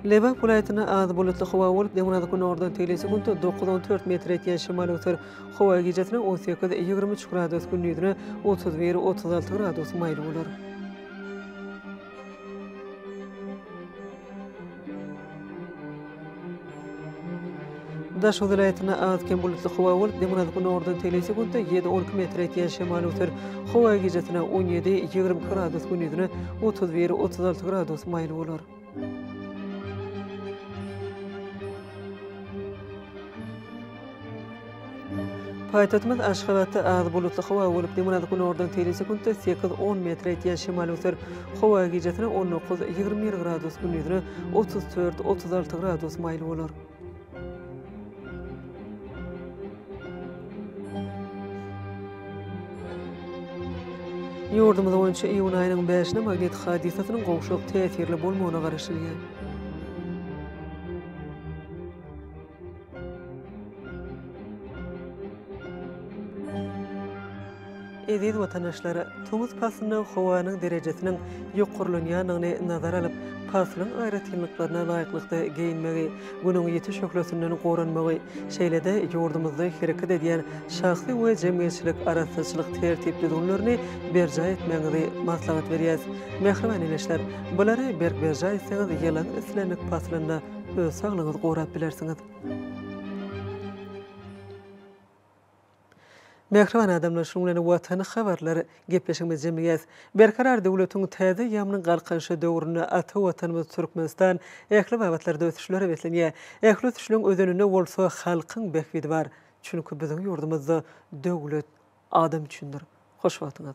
Lebap welaýatynda az bulutly howa bolup, demirgazyk günordan tigli sekuntda dokuz-on dört metr ýetýän şemal öser. Howa gijesine on sekiz, ýigrimi üç gradus, gündizine otuz bir, otuz alty gradus maýyl bolar. Daşoguz welaýatynda az-kem bulutly howa bolup, demirgazyk-günordan tegelýse günde ýedi-on iki metr etýän şemal öser. Howa gijasine on ýedi, ýigrimi iki gradus, gündizine otuz bir, otuz alty gradus maýyl bolar. Paýtagtymyz Aşgabatda az bulutly howa bolup, demirgazyk günordan teýli sekuntda sekiz, on metr ýetýän şemal öser. Howa gijasine on dokuz, ýigrimi bir gradus, gündizine otuz dört, otuz alty gradus maýyl bolar. Ýurdumyz boýunça iýun aýynyň bäşine magnit hadysasynyň gowşak täsirli bolmagyna garaşylýar. Eziz watandaşlar, tomus paslynda howanyň derejesiniň ýokarlanýandygyny nazara alyp, paslyň aýratynlyklaryna laýyklykda geýinmegi, Günüň ýiti şöhlesinden goranmagy, şeýle-de ýurdumyzda hereket edýän şahsy we jemgyýetçilik arassaçylyk tertip-düzgünlerini berjaý etmegiňizi maslahat berýäs. Mähriban ildeşler, bulary berk berjaý etseňiz, ýylyň islendik paslynda öz saglygyňyzy gorap bilersiňiz. Mähriban adamlar şunuň bilen Watan habarlar gepleşigimizi jemleýäs. Berkarar döwletiň täze ýamynyň galkynyşy döwründe ata Watanymyz Türkmenistan ähli babatlarda ösüşlere beslenýär. Ähli ösüşleň özeninde bolsa halkyň bähbidi bar. Çünki biziň ýurdumyzda döwlet adam üçindir. Hoş wagtyňyz.